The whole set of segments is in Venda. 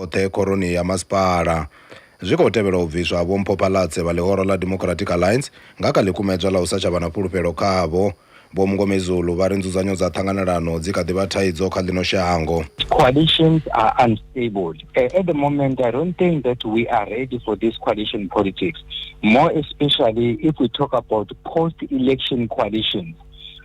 oṱhe khoroni ya masipala. Zwi khou tevhela u bviswa ha Vho Mpho Phalatse vha ḽihoro ḽa Democratic Alliance nga kha ḽikumedzwa ḽa u sa tsha vha na fhulufhelo khavho. Vho Mngomezulu vha ri nzudzanyo dza ṱhanganelano dzi kha ḓi vha thaidzo kha ḽino shango. Coalitions are unstable. At the moment, I don't think that we are ready for this coalition politics, more especially if we talk about post-election coalitions.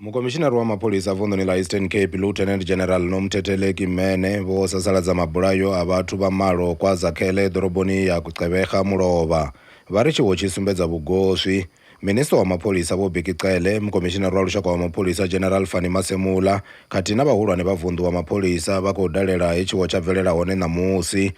Mukomishinari wa mapholisa vunḓuni ḽa Eastern Cape Lieutenant General Nomthetheleki Mene vho sasaladza mabulayo a vhathu vha malo kwa Zakhele ḓoroboni ya Gqeberha mulovha vha ri tshiwo tshi sumbedza vhugoswi. Minisiṱa wa mapholisa Vho Bheki Cele, Mukomishinari wa Lushaka wa Mapholisa General Fannie Masemola khathihi na vhahulwane vha vunḓu wa mapholisa vha khou dalela he tshiwo tsha bvelela hone ṋamusi.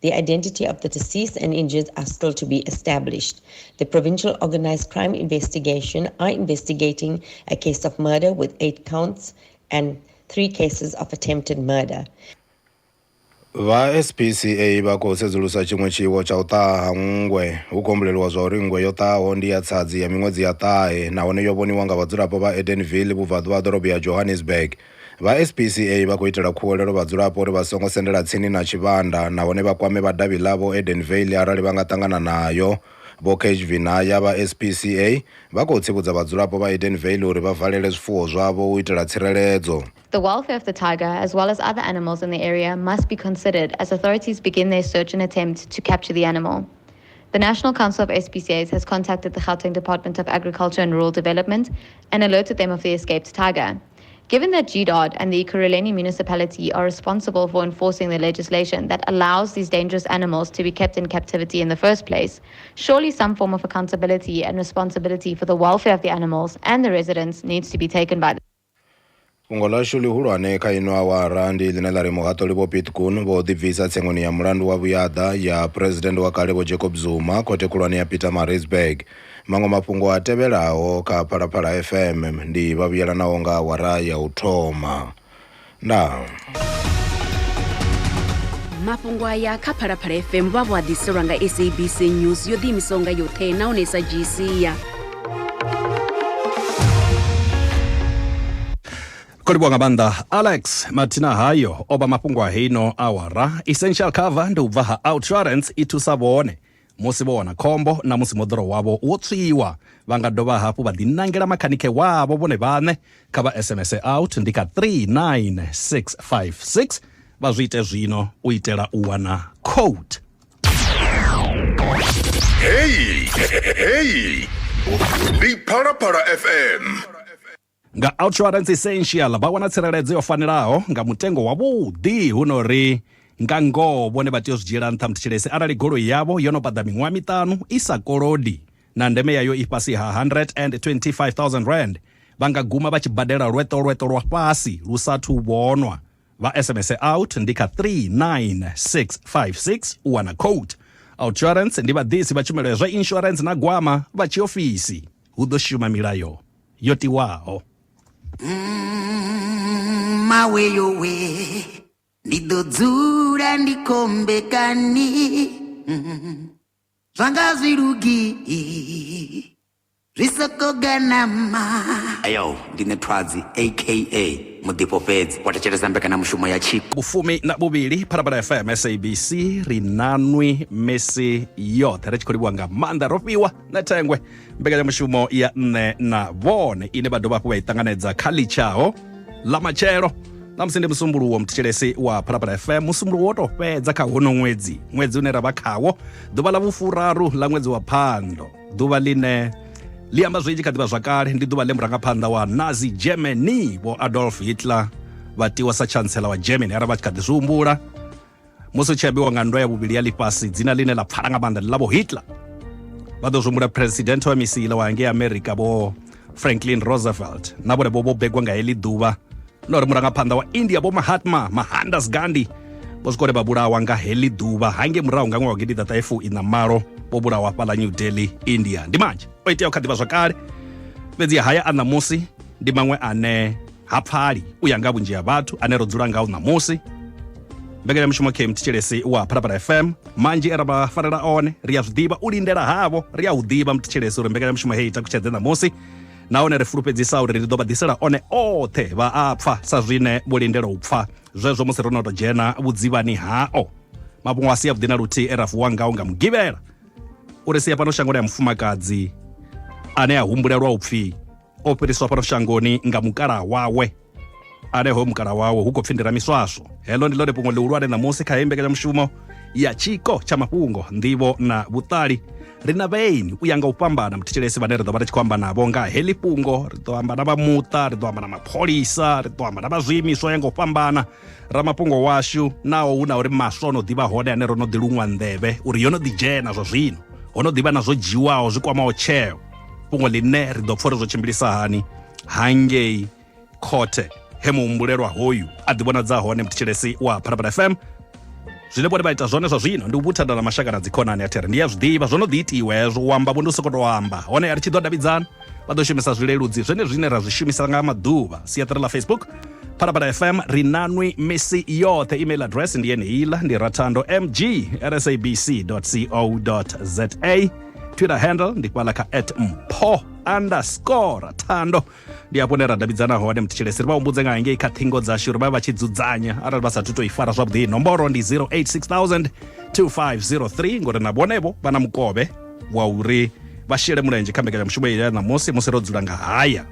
The identity of the deceased and injured are still to be established. The Provincial Organised Crime Investigation are investigating a case of murder with eight counts and three cases of attempted murder. vha spca vha khou sedzulusa tshiṅwe tshiwo tsha u ṱaha ha nngwe hu khou humbuleliwa zwa uri nngwe yo ṱahaho ndi ya tsadzi ya miṅwedzi ya ṱahe nahone yo vhoniwa nga vhadzulapo vha edenville vhubvaḓuvha ha ḓorobo ya johannesburg Vha SPCA vha khou itela khuwelelo vhadzulapo uri vha songo sendela tsini na tshivhanda nahone vha kwame vha davhi ḽavho Edenvale arali vha nga ṱangana nayo. Vho Keshvi Naya vha SPCA vha khou tsivhudza vhadzulapo vha Edenvale uri vha valele zwifuwo zwavho u itela tsireledzo. The welfare of the tiger as well as other animals in the area must be considered as authorities begin their search and attempt to capture the animal. The National Council of SPCAs has contacted the Gauteng Department of Agriculture and Rural Development and alerted them of the escaped tiger. Given that GDOT and the Ekurhuleni municipality are responsible for enforcing the legislation that allows these dangerous animals to be kept in captivity in the first place, surely some form of accountability and responsibility for the welfare of the animals and the residents needs to be taken by them. fhungo ḽashu ḽihulwane kha ino awara ndi ḽine ḽa ri muhaṱuli vho pitkun vho ḓibvisa tsengoni ya mulandu wa vhuyaḓa ya phuresidennde wa kale vho jacob zuma khothe khulwane ya pietermaritzburg Maṅwe mafhungo a tevhelaho kha Phalaphala FM ndi vha vhuyelanaho nga awara ya u thoma. Ndaa. mafhungo aya kha phalaphala fm vha vho a ḓiselwa nga sabc news yo ḓiimisaho nga yoṱhe nahone sa dzhiisia khou livhuwa nga maanḓa alex mathina hayo o vha mafhungo a heino awara essential cover ndi u bva ha outrance i thusa vhone Musi vho wana khombo na musi moḓoro wavho wo tswiwa, vha nga dovha hafhu vha ḓinangela makhanikhe wavho vhone vhaṋe. Kha vha SMS out ndi kha 39656 vha zwi ite zwino u itela u wana code. Heyi, heyi, ndi Phalaphala FM. Nga Outsurance Essential vha wana tsireledzo yo fanelaho nga mutengo wa vhuḓi hu no ri nga ngoho vhone vha tea u zwi dzhiela nṱha muthetshelesi arali goloi yavho yo no paḓa miṅwaha miṱanu i sa kolodi na ndeme yayo i fhasi ha R125,000 vha nga guma vha tshi badela lweṱo lweṱo lwa fhasi lu sa thu vhonwa. Vha SMS out ndi kha 39656 u wana quote. Outsurance ndi vhaḓisi vha tshumelo ya zwa insurance na gwama vha tshiofisi hu ḓo shuma milayo yo tiwaho. Mawe yo we ndi ḓo dzula ndi khombekani zwanga zwi lugi zwi soko ganama ayo ndi ne thwadzi aka muḓifho fhedzi wa thetshelesa mbekanamushumo ya tshiko vhufumi na vhuvhili phalaphala fm sabc ri nanwi misi yoṱhe ri tshi khou livhuwa nga maanḓa ro fhiwa na thengwe mbekanyamushumo ya nṋe na vhone ine vha dovha hafhu vha i ṱanganedza kha litshaho ḽa matshelo na musi ndi musumbuluwo muthetshelesi wa phalaphala fm musumbuluwo wo tou fhedza kha hono ṅwedzi ṅwedzi une ra vha khawo ḓuvha ḽa vhufuraru ḽa ṅwedzi wa phando ḓuvha ḽine ḽi amba zwinzhi kha ḓivha zwakale ndi ḓuvha ḽe murangaphanḓa wa nazi germany vho adolf hitler vha tiwa sa chancellor wa germany arali vha tshi kha ḓi zwi humbula musi u tshi ambiwa nga nndwa ya vhuvhili ya ḽifhasi dzina ḽine ḽa pfala nga maanḓa ndi ḽa vho hitler vha ḓo zwi president wa misile wa ngei america vho franklin roosevelt na vhone vho vho begwa nga heḽi ḓuvha na uri murangaphanḓa wa india vho mahatma mahandas gandhi vho swika uri vha vhulawa nga heḽi ḓuvha hange murahu nga ṅwaha wa gidiḓaṱahefu ina malo vho vhulawa fhaḽa new delhi india ndi manzhi o iteaho kha ḓivha zwakale fhedzi haya a ṋamusi ndi maṅwe ane ha pfali u ya nga vhunzhi ha vhathu ane ro dzula ngao ṋamusi mbekanyamushumo km thetshelesi wa phalaphala fm manzhi e ra vha farela one ri a zwi ḓivha u lindela havho ri a u ḓivha muthetshelesi uri mbekanyamushumo heyi takutshedze ṋamusi nahone ri fulufhedzisa uri ri ḓo vha ḓisela one oṱhe vha a pfa sa zwine vho lindela u pfa zwezwo musi ro no tou dzhena vhudzivhani hao mafhungo a si avhuḓi na luthihi e ra vuwa ngao nga mugivhela uri sia fhano shangoni ya mufumakadzi ane a humbulelwa u pfhi o fhiriswa fhano shangoni nga mukalaha wawe ane hoyo mukalaha wawe hu khou pfi ndira miswaswo heḽo ndi ḽone fhungo ḽihulwane ṋamusi kha heyi mbekanyamushumo ya tshiko tsha mafhungo nḓivho na vhuṱali ri na vhaeni u ya nga u fhambana muthetshelesi vhane ri ḓo vha ri tshi khou amba navho nga heḽi fhungo ri ḓo amba na vha muṱa ri ḓo amba na mapholisa ri ḓo amba na vha zwiimiswa ya nga u fhambana ramafhungo washu naho hu na uri maswa o no ḓivha hone ane ro no ḓi luṅwa nḓevhe uri yo no ḓi dzhena zwa zwino ho no ḓivha na zwo dzhiwaho zwi kwamaho tsheo fhungo ḽine ri ḓo pfha uri zwo tshimbilisa hani hangei khothe he muhumbulelwa hoyu a ḓivhonadza hone mthetshelesi wa phalaphala fm Zwine vhone vha ita zwone zwa zwino ndi u vhuthada na mashaka na dzikhonani. A thi ri ndi a zwi ḓivha, zwo no ḓi itiwa hezwo, u amba vho ndi u sokou tou amba. Hone a ri tshi ḓo davhidzana, vha ḓo shumisa zwileludzi zwenezwi zwine ra zwi shumisa nga maḓuvha, siaṱari ḽa Facebook, Phalaphala FM, ri nanwi misi yoṱhe. Email address ndi yeneiḽa, ndi rathandomg@sabc.co.za. Twitter handle ndi fhaḽa kha at mpho underscore rathando. ndi hafho hune ra davhidzana hone muthetshelesi ri vha humbudze nga hangei kha ṱhingo dzashu ri vha vha tshi dzudzanya arali vha sathu to i fara zwavhuḓi nomboro ndi 086 2503 ngori na vhonevo vha na mukovhe wa uri vha shele mulenzhe kha mbekanyamushumo ya ṋamusi musi ro dzula nga haya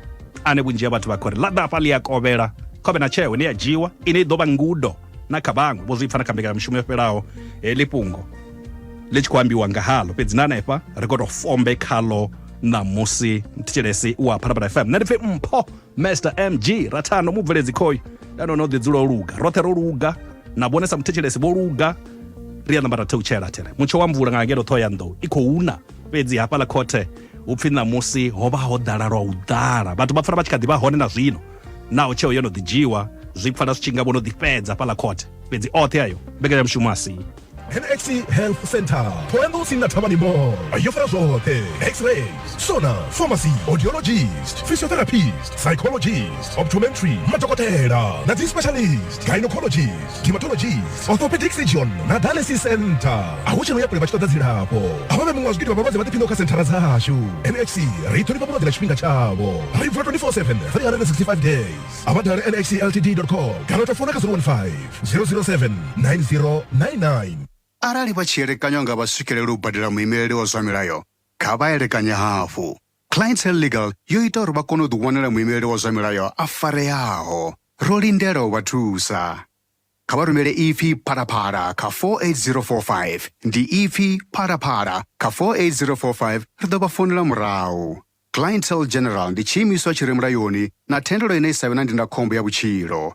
ane vhunzhi ha vhathu vha khou ri ḽa ḓafha ḽi a kovhela khovhe na tsheo ine ya dzhiwa ine i ḓo vha ngudo na kha vhaṅwe vho zwi pfa na kha mbekanyamushumo yo fhelaho heḽi eh, fhungo ḽi tshi khou ambiwa nga haḽo fhedzi na hanefha ri khou tou fombe khaḽo ṋamusi thetshelesi wa phalaphala fm nṋe ndi pfhi mpho master mg rathano mubveledzi khoyu ya none o ḓi dzula o luga roṱhe ro luga na vhone sa muthetshelesi vho luga ri a namba ra theutshela thele mutsho wa mvula nga ngeno ṱhoho ya nḓou i khou na fhedzi hafhaḽa khothe hu pfhi ṋamusi ho vha ho ḓala lwa u ḓala vhathu vha pfala vha tshi kha ḓi vha hone na zwino naho tsheo yo no ḓi dzhiwa zwi pfala zwi tshi nga vho no ḓifhedza fhaḽa khothe fhedzi oṱhe ayo mbekanyamushumo a si NXC Health Center Thohoyanḓou tsini na Thavhani Mall yo fara zwoṱhe x-rays sona pharmacy audiologist physiotherapist psychologist optometry madokotela na dzi specialist gynecologies dermatologies orthopedic surgeon na dialysis center a hu tsheno ya kule vha tshi ṱoḓa dzilafho a vha vhe muṅwe wa zwigidi vha vhalwadze vha ḓiphiṋaho kha senthara dzashu nhc ri ṱhonifha vhulwadze na tshifhinga tshavho ri vula 24/7 365 days a vha dale nhcltd com kana u tou fona kha 015 007 9099 Arali vha tshi elekanywa nga vha swikelele u badela muimeleli wa zwa milayo, kha vha elekanye hafhu. Clientele Legal yo ita uri vha kone u ḓiwanela muimeleli wa zwa milayo a fareaho. Ro lindela u vha thusa. Kha vha rumele ipfi Phalaphala kha 48045. Ndi ipfi Phalaphala kha 48045 ri ḓo vha founela murahu. Clientele General ndi tshiimiswa tshi re mulayoni na thendelo ine i sa vhe na ndindakhombo ya vhutshilo.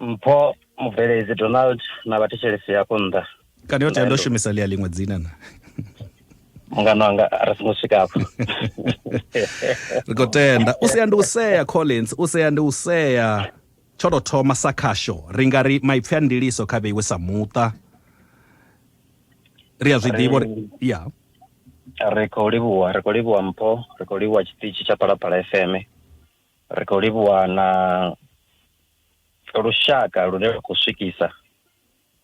mpho mubveledzi donald na vhathetshelesi hafho nnḓa kana yo tea ndo shumisa ḽia ḽiṅwe dzina na mungano wanga ri songo swika afho ri khou tenda u sea ndi u sea collins u sea ndi u sea tsho tou thoma sa khasho ri nga ri maipfi a ndiliso kha vheiwe sa muṱa ri a zwi ḓivha uri ya ri khou livhuwa ri khou livhuwa mpho ri khou livhuwa tshiṱitshi tsha phalaphala fm ri khou livhuwa na lushaka lune lwa khou swikisa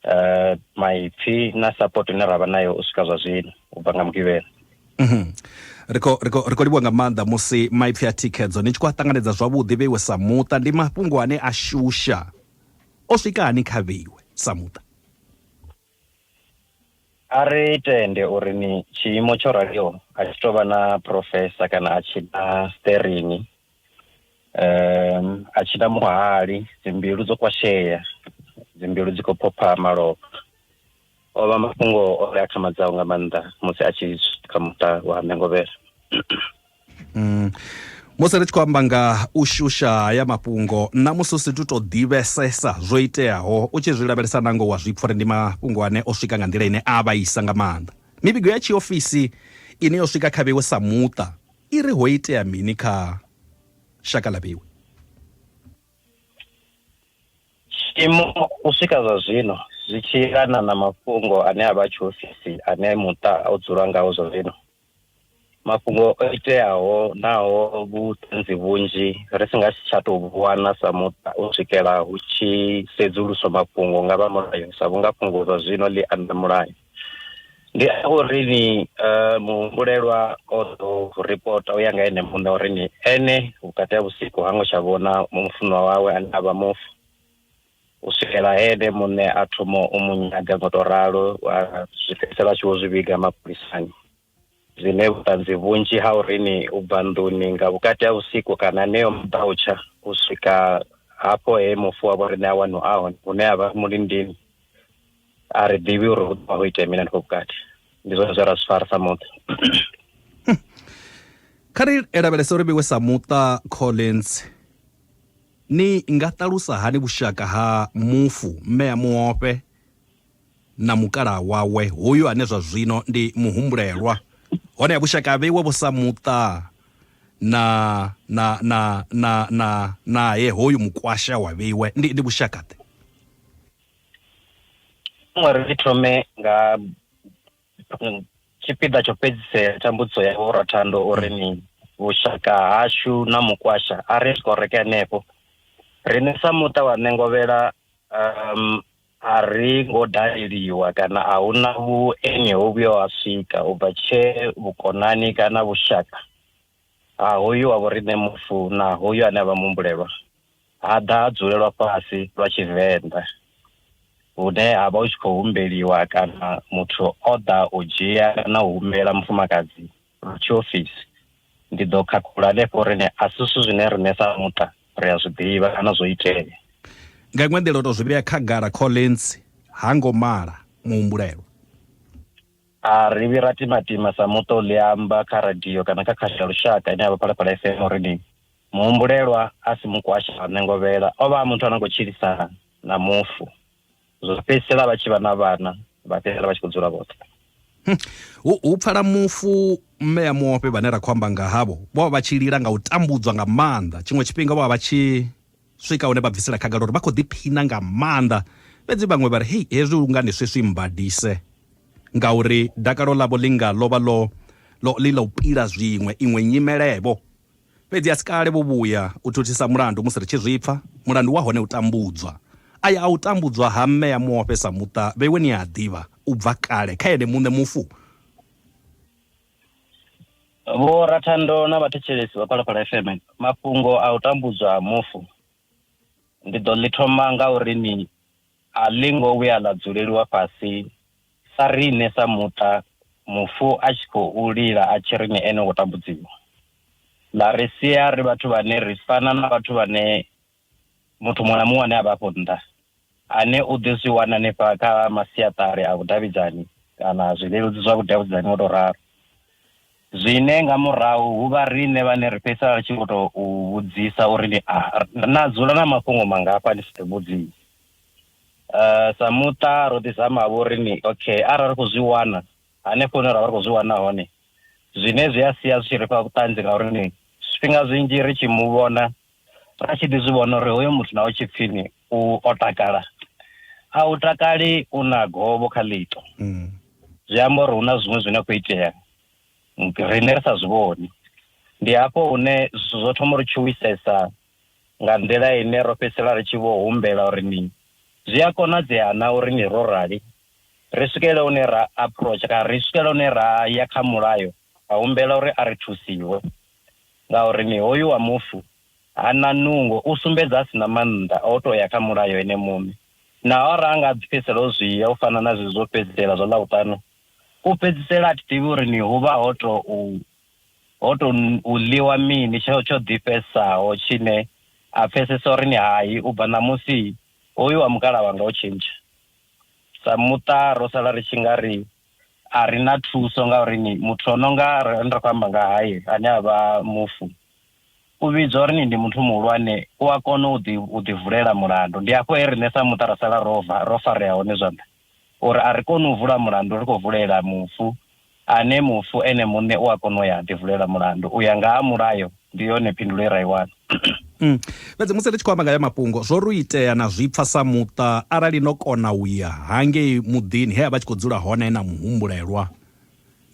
uh, maipfi na support ine ra vha nayo u swika zwa zwino u bva nga mugivhela mhm. ri khou livhuwa nga maanḓa musi maipfi a thikhedzo ni tshi khou a ṱanganedza zwavhuḓi vheiwe sa muṱa ndi mafhungo ane a shusha o swika hani kha vheiwe sa muṱa a ri tende uri ni tshiimo tsho raliho a tshi tou vha na profesa kana a tshi na sterini um a tshi na muhali dzimbilu dzo kwashea dzimbilu dzi khou phopha malofha o vha mafhungo o ri a khamadzaho nga maanḓa musi a tshi kha muṱa wa mengovhela mm. musi ri tshi khou amba nga u shusha haya mafhungo nna musi u si tu to ḓivhesesa zwo iteaho u tshi zwi lavhelesa nango wa zwi pfha uri ndi mafhungo ane o swika nga nḓila ine a vhaisa nga maanḓa mivhigo ya tshiofisi ine yo swika kha vhewe sa muṱa i ri ho itea mini kha shaka ḽa vhewi tshiimo u swika zwa zwino zwi tshi yelana na mafhungo ane a vha tshiofisi ane muṱa o dzula ngawo zwa zwino mafhungo o iteaho naho vhuṱanzi vhunzhi ri si nga si tsha tou vhuwana sa muṱa u swikela hu tshi sedzuluswa mafhungo nga vha mulayo sa vhunga fhungo zwa zwino ḽi anda mulayo ndi a uri ni eh, muhumbulelwa o ḓo ripota u ya nga ene muṋe uri ni ene vhukati ha vhusiku ha ngo tsha vhona mufunwa wawe ane a vha mufu u swikela ene muṋe a thoma u mu nyaga ngo to ralo wa zwi fhedzisela a tshi vho zwi vhiga mapholisani Zwine vhuṱanzi vhunzhi ha uri ni u bva nḓuni nga vhukati ha vhusiku kana neo maḓautsha u swika hafho he mufu wa vho riṋe a wanu a hone hune a vha mulindini a ri ḓivhi uri hu ḓo vha ho itea mini hanefho vhukati ndi zwone zwe ra zwi fara sa muṱa kha ri lavhelese uri vhiwe sa muṱa collins ni nga ṱalusa hani vhushaka ha mufu mme a muofhe na mukalaha wawe, hoyu ane zwa zwino ndi muhumbulelwa. Honeha vhushaka ha vheiwa vho sa muṱa na, na, na, na, na, nae hoyu mukwasha wa vheiwa. Ndi, ndi vhushaka-ḓe? Vhaṅwe ri ri thome nga tshipiḓa tsho fhedzisela tsha mbudziso ya Vho Rathando uri ni vhushaka hashu na mukwasha a ri skoreke henefho. Riṋe sa muṱa wa Ṋengovhela, um, A ri ngo daleliwa kana a hu na vhueni ho vhuyaho ha swika u bva tshee vhukonani kana vhushaka ha hoyu wa vhoriṋe mufu na hoyu ane a vha muhumbulelwa ha ḓa ha dzulelwa fhasi lwa Tshivenḓa hune ha vha hu tshi khou humbeliwa kana muthu o ḓa u dzhia kana u humbela mufumakadzi tshiofisi. Ndi ḓo khakhulula hanefho uri a si zwithu zwine riṋe sa muṱa ri a zwi ḓivha kana zwo itea. Nga iṅwe nḓila, o tou zwi vhea khagala, Collins ha ngo mala muhumbulelwa. A ri vhi ra timatima sa muṱa u ḽi amba kha radio kana kha khasho ya lushaka ine ya vha Phalaphala FM uri ni muhumbulelwa a si mukwasha wa ṋengovhela, o vha a muthu a no khou tshilisana na mufu. zwa fhedzisela vha tshi vha na vhana vha fhedzisela vha tshi khou dzula vhoṱhe hm. hu hu pfala mufu mme ya muofhe vhane ra khou amba nga havho vho vha vha tshi lila nga u tambudzwa nga maanḓa tshiṅwe tshifhinga vho vha vha tshi swika hune vha bvisela khagala uri vha khou ḓiphina nga maanḓa fhedzi vhaṅwe vha ri hei hezwi lungani swiswi mbadise ngauri dakalo ḽavho ḽi nga ḽo vha ḽo ḽi ḽa u pila zwiṅwe iṅwe nyimelevho Fhedzi a si kale vho vhuya u thuthisa mulandu musi ri tshi zwi pfa. Mulandu wa hone u tambudzwa. Aya a u tambudzwa ha mme ya muofhe sa muṱa vhe we ni a ḓivha u bva kale kha ene muṋe mufu. Vho Rathando na vhathetshelesi vha Phalaphala FM, mafhungo a u tambudzwa ha mufu ndi ḓo ḽi thoma nga uri ni A ḽi ngo vhuya ḽa dzuleliwa fhasi sa riṋe sa muṱa mufu a tshi khou lila a tshi ri ni ene wo tambudziwa, ḽa ri sia ri vhathu vhane ri fana na vhathu vhane muthu muṅwe na muṅwe ane a vha afho nnḓa ane u ḓi zwi wana hanefha kha masiaṱari a vhudavhidzani kana zwileludzi zwa vhudavhidzani, o tou ralo. Zwine nga murahu hu vha riṋe vhane ri fhedzisela ri tshi vho tou u vhudzisa uri ni a na dzula na mafhungo mangafha ni si ḓi vhudzise. Sa muṱa ro ḓi zama-vho uri ni okay arali ri khou zwi wana hanefho hune ra vha ri khou zwi wana hone zwine zwi a sia zwi tshi ri fha vhuṱanzi ngauri ni zwifhinga zwinzhi ri tshi mu vhona ra tshi ḓi zwi vhona uri hoyo muthu na u tshipfini u o takala a u takali u na govho kha ḽito mm. zwi amba uri hu na zwiṅwe zwine khou itea riṋe ri sa zwi vhoni ndi hafho hune zwithu zwo thoma uri tshuwisesa nga nḓila ine ro fhedzisela ri tshi vho humbela uri ni zwi a konadzea na uri ni ro rali ri swikele une ra approach kana ri swikele une ra ya kha mulayo ra humbela uri a ri thusiwe ngauri ni hoyu wa mufu ha na nungo, u sumbedza a si na maanḓa a u tou ya kha Mulayo ene muṋe. Naho arali a nga a ḓipfesela o zwi ya u fana na zwezwi zwo fhedzisela zwa Ḽavhuṱanu, u fhedzisela a thi ḓivhi uri ni hu vha ho tou ho tou ḽiwa mini tsho tsho ḓifhesaho tshine a pfesesa uri ni hai, u bva ṋamusi hoyu wa mukalaha wanga o tshintsha. Sa muṱa ro sala ri tshi nga ri a ri na thuso ngauri ni muthu o no nga ri khou amba nga haye ane a vha mufu u vhidzwa uri ni ndi muthu muhulwane u a kona u ḓi u ḓi vulela mulandu ndi hafho he riṋe sa muṱa ra sala ro va ro farea hone zwanḓa uri a ri koni u vula mulandu ri khou vulela mufu ane mufu ene muṋe u a kona u ya ḓi vulela mulandu u ya nga ha mulayo ndi yone phindulo ye ra i wana mm. fhedzi musi ri tshi khou amba nga ya mafhungo zwo ri itea na zwi pfa sa muṱa arali no kona u ya hangei muḓini he a vha tshi khou dzula hone na muhumbulelwa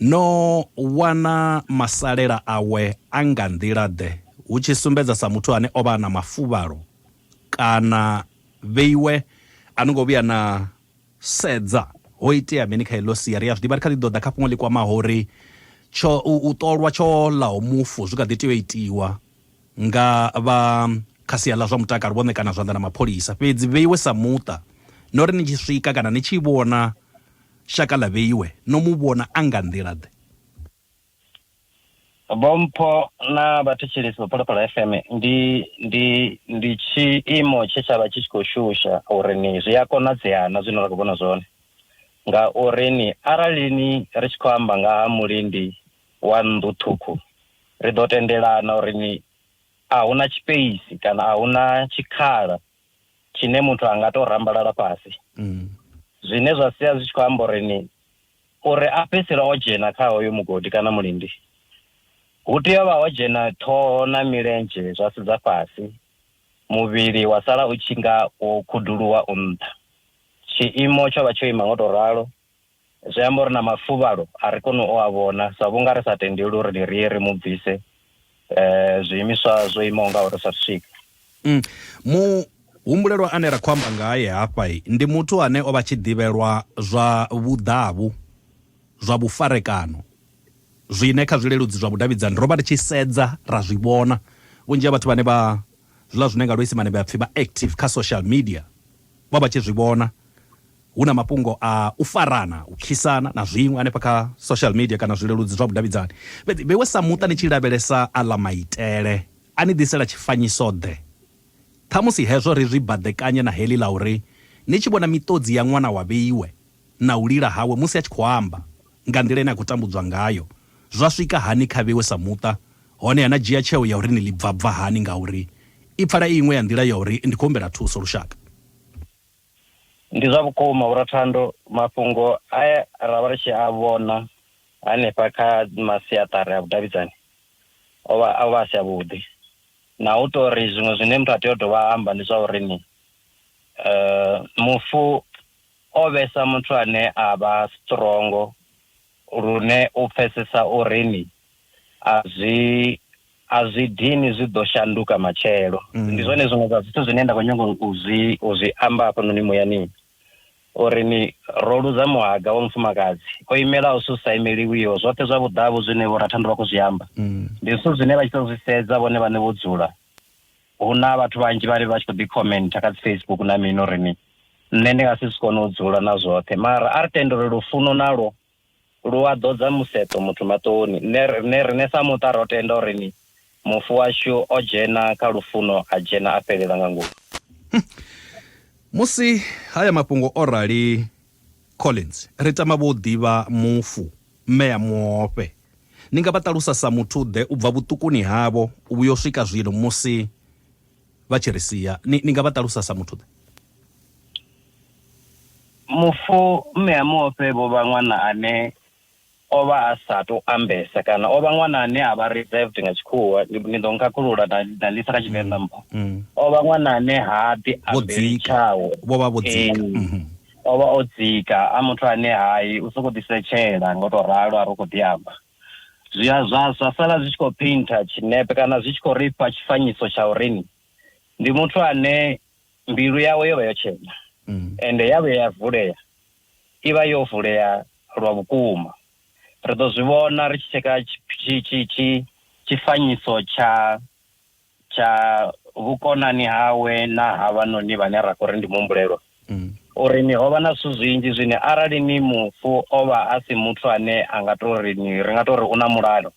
no wana masalela awe a nga nḓila ḓe hu tshi sumbedza sa muthu ane o vha na mafuvhalo kana vheiwe a no ngo vhuya na Sedza! Ho itea mini kha heḽo sia? Ri a zwi ḓivha, ri kha ḓi ḓo ḓa kha fhungo ḽi kwamaho uri tsho, u, u ṱolwa tsho ḽaho mufu zwi kha ḓi tea u itiwa nga vha kha sia ḽa zwa mutakalo vho ṋekana zwanḓa na mapholisa. Fhedzi Vheiwe sa muṱa, no ri ni tshi swika kana ni tshi vhona shaka ḽa Vheiwe, no mu vhona a nga nḓila-ḓe? Vhompho na vhathetshelesi vha Phalaphala FM ndi ndi ndi tshiimo tshe tshavha tshi tshi khou shusha uri ni zwi a konadzea na zwine ra khou vhona zwone ngauri ni arali ni ri tshi khou amba nga ha mulindi wa nnḓu ṱhukhu ri ḓo tendelana uri ni a huna tshipeisi kana a huna tshikhala tshine muthu a nga tou rambalala fhasi mm. zwine zwa sia zwi tshi khou amba uri ni uri a fhedzisela o dzhena kha hoyo mugodi kana mulindi hu tea vha ho dzhena ṱhoho na milenzhe zwa sedza fhasi muvhili wa sala u tshi nga wo khuduluwa u nṱha tshiimo tsho vha tsho ima ngo tou ralo Zwi amba uri na mafuvhalo a ri koni u a vhona sa vhunga ri sa tendeli uri ri ye ri mu bvise zwiimiswa zwo imaho ngauri sa swika. Muhumbulelwa ane ra khou amba ngae hafha ndi muthu ane o vha tshi ḓivhelwa zwa vhuḓavhu, zwa vhufarekano zwine kha zwileludzi zwa vhudavhidzani ro vha ri tshi sedza ra zwi vhona. Vhunzhi ha vhathu vhane vha zwiḽa zwine nga luisimane vha pfi vha active kha social media vha vha tshi zwi vhona hu na mafhungo a u farana, u khisana na zwiṅwe hanefha kha social media kana zwileludzi zwa vhudavhidzani. Fhedzi vheiwe sa muṱa ni tshi lavhelesa aḽa maitele, a ni ḓisela tshifanyiso-ḓe? Ṱhamusi hezwo ri zwi baḓekanye na heḽi ḽa uri ni tshi vhona miṱodzi ya ṅwana wa vheiwe, na u lila hawe musi a tshi khou amba nga nḓila ine a khou tambudzwa ngayo zwa swika hani kha vhewe sa muṱa, honeha na dzhia tsheo ya uri ni ḽi bvabva hani ngauri i pfala i iṅwe ya nḓila ya uri ndi khou humbela thuso. Lushaka. Ndi zwa vhukuma ura Thando, mafhungo a ra vha ri tshi a vhona hanefha kha masiaṱari a vhudavhidzani o vha o vha a si avhuḓi, na u tou ri zwiṅwe zwine muthu a tea u dovha a amba ndi zwa uri ni mufu. O vhesa muthu ane a vha strongo lune u pfesesa uri ni a zwi a zwi dini zwi ḓo shanduka matshelo. Ndi zwone zwiṅwe zwa zwithu zwine nda khou nyanga u zwi u zwi amba hafhanoni muyani uri ni ro luza muhaga wa mufumakadzi o imelaho zwithu zwi sa imeliwiho. Zwoṱhe zwa vhuḓavhu zwine Vho Rathandu vha khou zwi amba ndi zwithu zwine vha tshi tou zwi sedza vhone vhaṋe vho dzula Hu na vhathu vhanzhi vhane vha tshi khou ḓi khomenta kha dzi Facebook na mini uri ni nṋe ndi nga si zwi kone u dzula na zwoṱhe mara a ri tende uri lufuno nalwo lu a ḓodza museṱo muthu maṱoni. Nṋe riṋe riṋe sa muṱa ro tenda uri ni mufu washu o dzhena kha lufuno a dzhena a fhelela nga ngomu. Musi haya mafhungo o rali, Collins, Ri tama vho u ḓivha mufu, mme a muofhe. Ni nga vha ṱalusa sa muthu-ḓe u bva vhuṱukuni havho u vhuya u swika zwino musi vha tshi ri sia? Ni, ni nga vha ṱalusa sa muthu-ḓe? Mufu, mme a muofhe vho vha ṅwana ane o vha a sa tou ambesa kana o vha ṅwana ane a vha reserved nga tshikhuwa ni ḓo nkhakhulula na na lisa kha tshivenḓa mpho o vha ṅwana ane ha ḓi Vho ambeli dzika. tshawe Vho vha vho dzika. Ee. Mhm. o vha o dzika a muthu ane hai u sokou ḓisetshela nga u tou ralo a ri u khou ḓi amba zwi a zwa zwa sala zwi tshi khou painter tshinepe kana zwi tshi khou ri fha tshifanyiso tsha urini ndi muthu ane mbilu yawe yo vha yo tshena Mm. ende ya vhuya ya vulea i vha yo vulea lwa vhukuma. Ri ḓo zwi vhona ri tshi tsheka tshifanyiso tsha tsha vhukonani hawe na havhanoni vhane ra khou ri ndi muhumbulelwa uri ni ho vha na zwithu zwinzhi zwine arali ni mufu o vha a si muthu ane a nga tou ri ni ri nga tou ri u na mulalo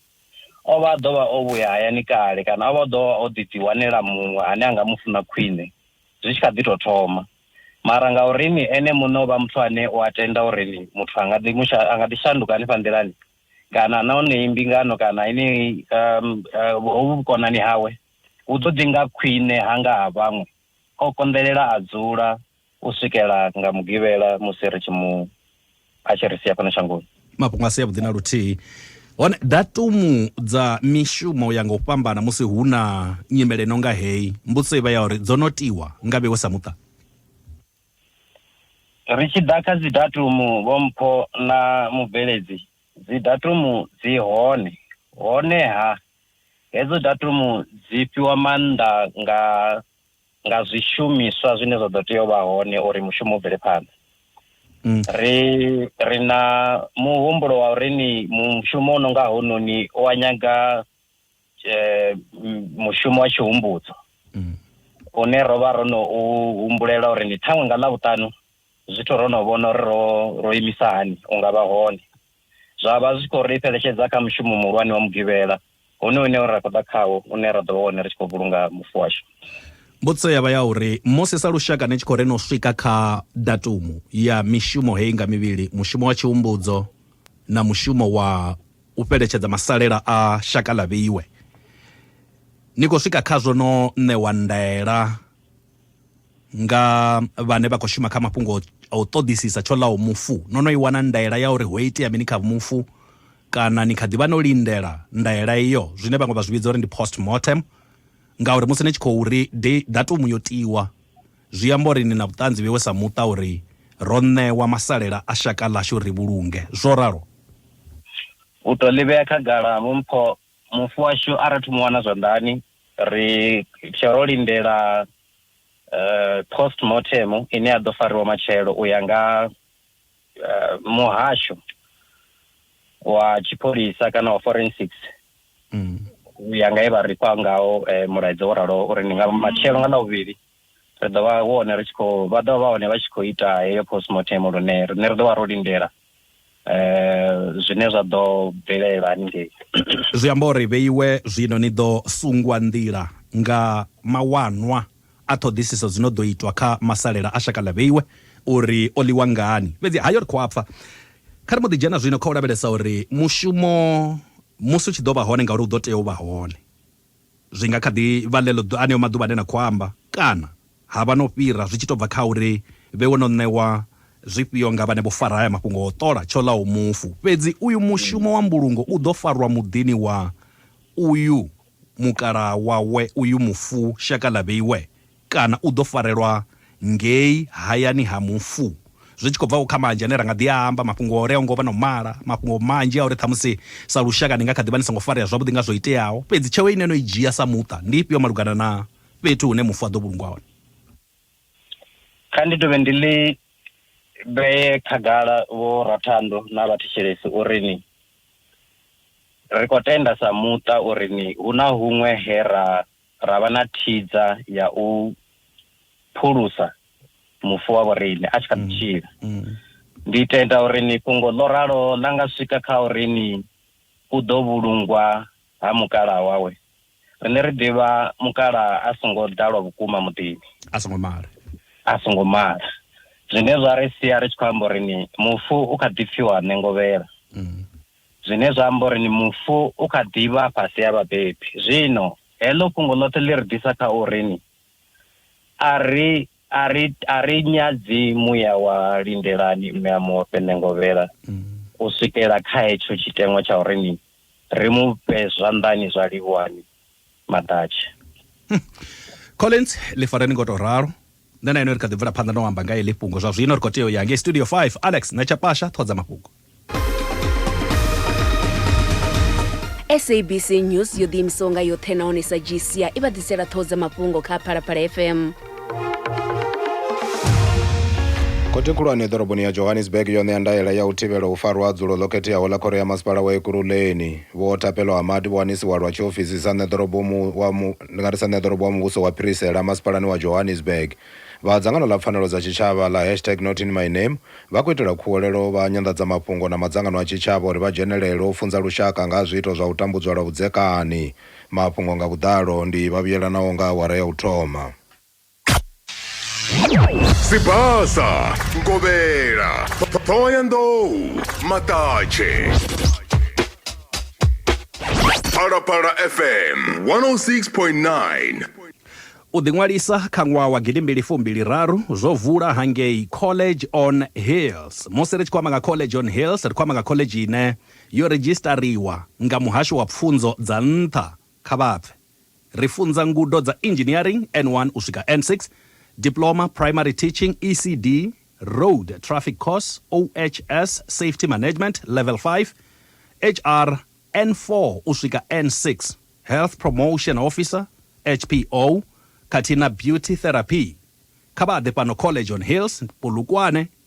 o vha a ḓo vha o vhuya hayani kale kana o vha o ḓo vha o ḓi ḓiwanela muṅwe ane a nga mu funa khwine. zwi tshi kha ḓi tou thoma. Mara ngauri ni ene muṋe o vha muthu ane u a tenda uri muthu a nga ḓi musha, a nga ḓi shanduka hanefha nḓilani kana na honeyi mbingano kana heneyi um, uh, hovhu vhukonani hawe hu ḓo ḓi nga khwine hanga ha vhaṅwe, o konḓelela a dzula u swikela nga Mugivhela musi ri tshi mu a tshi ri sia fhano shangoni mafhungo a si avhuḓi na luthihi hone datumu dza mishumo u ya nga u fhambana musi hu na nyimele no nga heyi mbudziso i vha ya uri dzo no tiwa nga vhewe sa muṱa ri tshi ḓa kha dzi datumu vho mpho na mubveledzi dzi datumu dzi hone honeha hedzo datumu dzi fhiwa maanḓa nga nga zwishumiswa zwine zwa ḓo tea u vha hone uri mushumo u bvele phanḓa mm. ri ri na muhumbulo wa uri ni mushumo u no nga hononi u wa nyaga eh, mushumo wa tshihumbudzo mm. une ro vha ro no u humbulela uri ni ṱhaṅwe nga ḽa vhuṱanu zwithu ro no vhona uri ro ro imisa hani u nga vha hone zwa vha zwi tshi khou ri fheletshedza kha mushumo muhulwane wa Mugivhela honoyu une ra khou ḓa khawo, une ra ḓo vha hone ri tshi khou vhulunga mufu washu. Mbudziso ya vha ya uri, Musi sa lushaka ni tshi khou ri no swika kha datumu ya mishumo heyi nga mivhili, mushumo wa Tshihumbudzo na mushumo wa u fheletshedza masalela a shaka ḽa vheiwe, ni khou swika khazwo no ṋewa ndaela, nga vhane vha khou shuma kha mafhungo a u ṱoḓisisa tsho ḽaho mufu no no i wana ndaela ya uri ho itea mini kha mufu kana ni kha ḓivha no lindela ndaela iyo zwine vhaṅwe vha zwi vhidza uri ndi post mortem ngauri musi ni tshi khou ri datumu yo tiwa zwi amba uri ni na vhuṱanzi vhewe sa muṱa uri ro ṋewa masalela a shaka ḽashu ri vhulunge zwo ralo u to ḽivhea khagala vho mpho mufu washu a rathu mu wana zwanḓani Ri tshe ro lindela post mortem ine ya ḓo fariwa matshelo u ya nga muhasho wa tshipholisa kana wa forensics mm. u ya nga he vha ri fha ngaho mulaedza wo raloho uri ndi nga matshelo nga ḽavhuvhili ri ḓo vha hone ri tshi khou vha ḓo vha hone vha tshi khou ita heyo postmortem lune rine ri ḓo vha ro lindela um zwine zwa ḓo bvelela haningei zwi amba uri vheiwe zwino ni ḓo sungwa nḓila nga mawanwa a ṱhoḓisiso dzi no ḓo itwa kha masalela a shaka ḽa vheiwe uri o ḽiwa ngani fhedzi hayo ri khou a pfa kha ri mbo ḓi dzhena zwino kha u lavhelesa uri mushumo musi u tshi ḓo vha hone ngauri u ḓo tea u vha hone Zwi nga kha ḓi vha ḽeḽo aneo maḓuvha ane na khou amba, kana ha vha no fhira, zwi tshi tou bva kha uri vhewe no ṋewa zwifhio nga vhane vho fara haya mafhungo a u ṱola tsho ḽaho mufu. Fhedzi uyu mushumo wa mbulungo u ḓo farwa muḓini wa uyu mukalaha wawe uyu mufu shaka ḽa vheiwe Kana u ḓo farelwa ngei hayani ha mufu. Zwi tshi khou bva-vho kha manzhi ane ra nga ḓi a amba, mafhungo a uri a ho ngo vha na u mala, mafhungo manzhi a uri ṱhamusi sa lushaka ni nga kha ḓi vha ni songo farea zwavhuḓi nga zwo iteaho, fhedzi tsheo ine no i dzhia sa muṱa ndi ifhio malugana na fhethu hune mufu a ḓo vhulungwa hone? Kha ndi dovhe ndi ḽi vhee khagala, Vho Rathando na vhathetshelesi, uri ni, ri khou tenda sa muṱa uri ni, hu na huṅwe he ra ra vha na thidza ya u phulusa mufu wa vhoriṋe a tshi kha ḓi tshila ndi tenda uri ni fhungo ḽo ralo ḽa nga swika kha uri ni u ḓo vhulungwa ha mukalaha wawe rine ri ḓivha mukalaha a songo ḓalwa vhukuma muḓini a songo mala a songo mala zwine zwa ri sia ri tshi khou amba uri ni mufu u kha ḓi pfiwa nengovhela Zwine zwa amba uri ni mufu u kha ḓi vha fhasi ha vhabebi. Zwino, heḽo fhungo ḽoṱhe ḽi ri ḓisa kha uri ni, a ri, a ri, a ri nyadzi muya wa lindelani mme a mu ofhe ṋengovhela u swikela kha hetsho tshiteṅwa tsha uri ni ri mu fhe zwanḓani zwa livhuhani maḓatshe hm. collins ḽi fareni ngo tou ralo nṋe na ino ri kha ḓi bvela phanḓa no amba nga eḽi fhungo zwa zwino ri khou tea u ya ngei studio 5 alex na tshapasha ṱhodza mafhungo sabc news yo ḓiimisaho nga yoṱhe nahone sa gcia i vha ḓisela ṱhoho dza mafhungo kha phalaphala fm khothe khulwane ḓoroboni ya johannesburg yo ṋea ndaela ya u thivhela u farwa ha dzulo ḽo khetheaho ḽa khoro ya masipala wa ekuruleni vho thapelo hamadi vho wanisiwa lwa tshiofisi sa ṋeḓorobo wa mu nga ri sa ṋeḓorobo wa muvhuso wa phirisela masipalani wa johannesburg vha dzangano ḽa pfanelo dza tshitshavha ḽa hashtag not in my name vha khou itela khuwelelo vha nyanḓadzamafhungo na madzangano a tshitshavha uri vha dzhenelele u funza lushaka nga ha zwiito zwa u tambudzwa lwa vhudzekani Mafhungo nga vhuḓalo ndi vhavhuyelanaho nga awara ya u thoma. Sibasa, Ngovhela, Ṱhohoyanḓou, Maṱatshe. Phalaphala FM 106.9. U ḓiṅwalisa kha ṅwaha wa gidi mbili fu mbili raru zwo vula hangei College on Hills. Musi ri tshi khou amba nga College on Hills, ri khou amba nga khoḽedzhi ine. Yo redzhisiṱariwa nga Muhasho wa Pfunzo dza Nṱha kha vhapfe. Ri funza ngudo dza Engineering, N1 u swika N6, Diploma, Primary Teaching, ECD, Road Traffic Course, OHS, Safety Management, Level 5, HR, N4 u swika N6, Health Promotion Officer, HPO, khathihi na Beauty Therapy. Kha vha ḓe fhano College on Hills, Polokwane,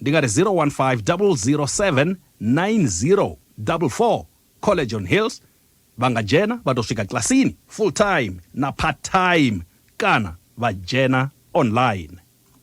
ndi ngati 015 007 9044 college on hills vangajena vatosvika klasini full time na part time kana vajena online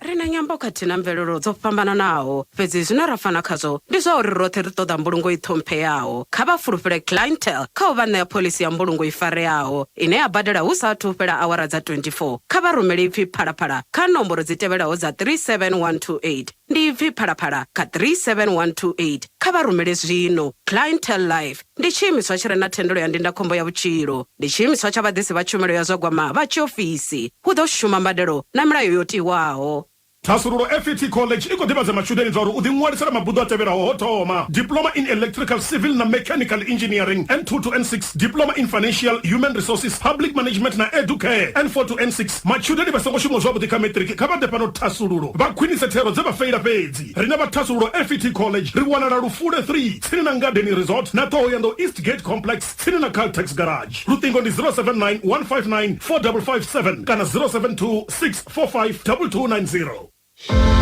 ri na nyambo khathihi na mvelelo dzo fhambananaho fhedzi zwine ra fana khazwo ndi zwa uri roṱhe ri ṱoḓa mbulungo i ṱhompheyaho kha vha fulufhele clientel kha u vha ṋea phoḽisi ya mbulungo i fareaho ine ya badela hu sa athu fhela awara dza 24 kha vha rumele ipfi Phalaphala kha nomboro dzi tevhelaho dza 37128. Ndi ipfi Phalaphala kha 37128. Kha vha rumele zwino. Clientele Life ndi tshiimiswa tshi re na thendelo ya ndindakhombo ya vhutshilo. Ndi tshiimiswa tsha vhaḓisi vha tshumelo ya zwa gwama vha tshiofisi. Hu ḓo shuma mbadelo na milayo yo tiwaho. Thasululo FET College i khou ḓivhadza matshudeni zwauri u ḓiṅwalisela mabuḓo a tevhelaho ho thoma, Diploma in Electrical, Civil na Mechanical Engineering, N2 to N6, Diploma in Financial, Human Resources, Public Management na Educare, N4 to N6. Matshudeni vha songo shumaho zwavhuḓi kha Matric kha vha ḓe fhano Thasululo vha khwinise thero dze vha feila fhedzi. Riṋe vha Thasululo FET College ri wanala Lufule 3, tsini na Ngadeni Resort na Ṱhohoyanḓou East Gate Complex, tsini na Caltex Garage. Luṱingo ndi 079 159 4557 kana 072 6452290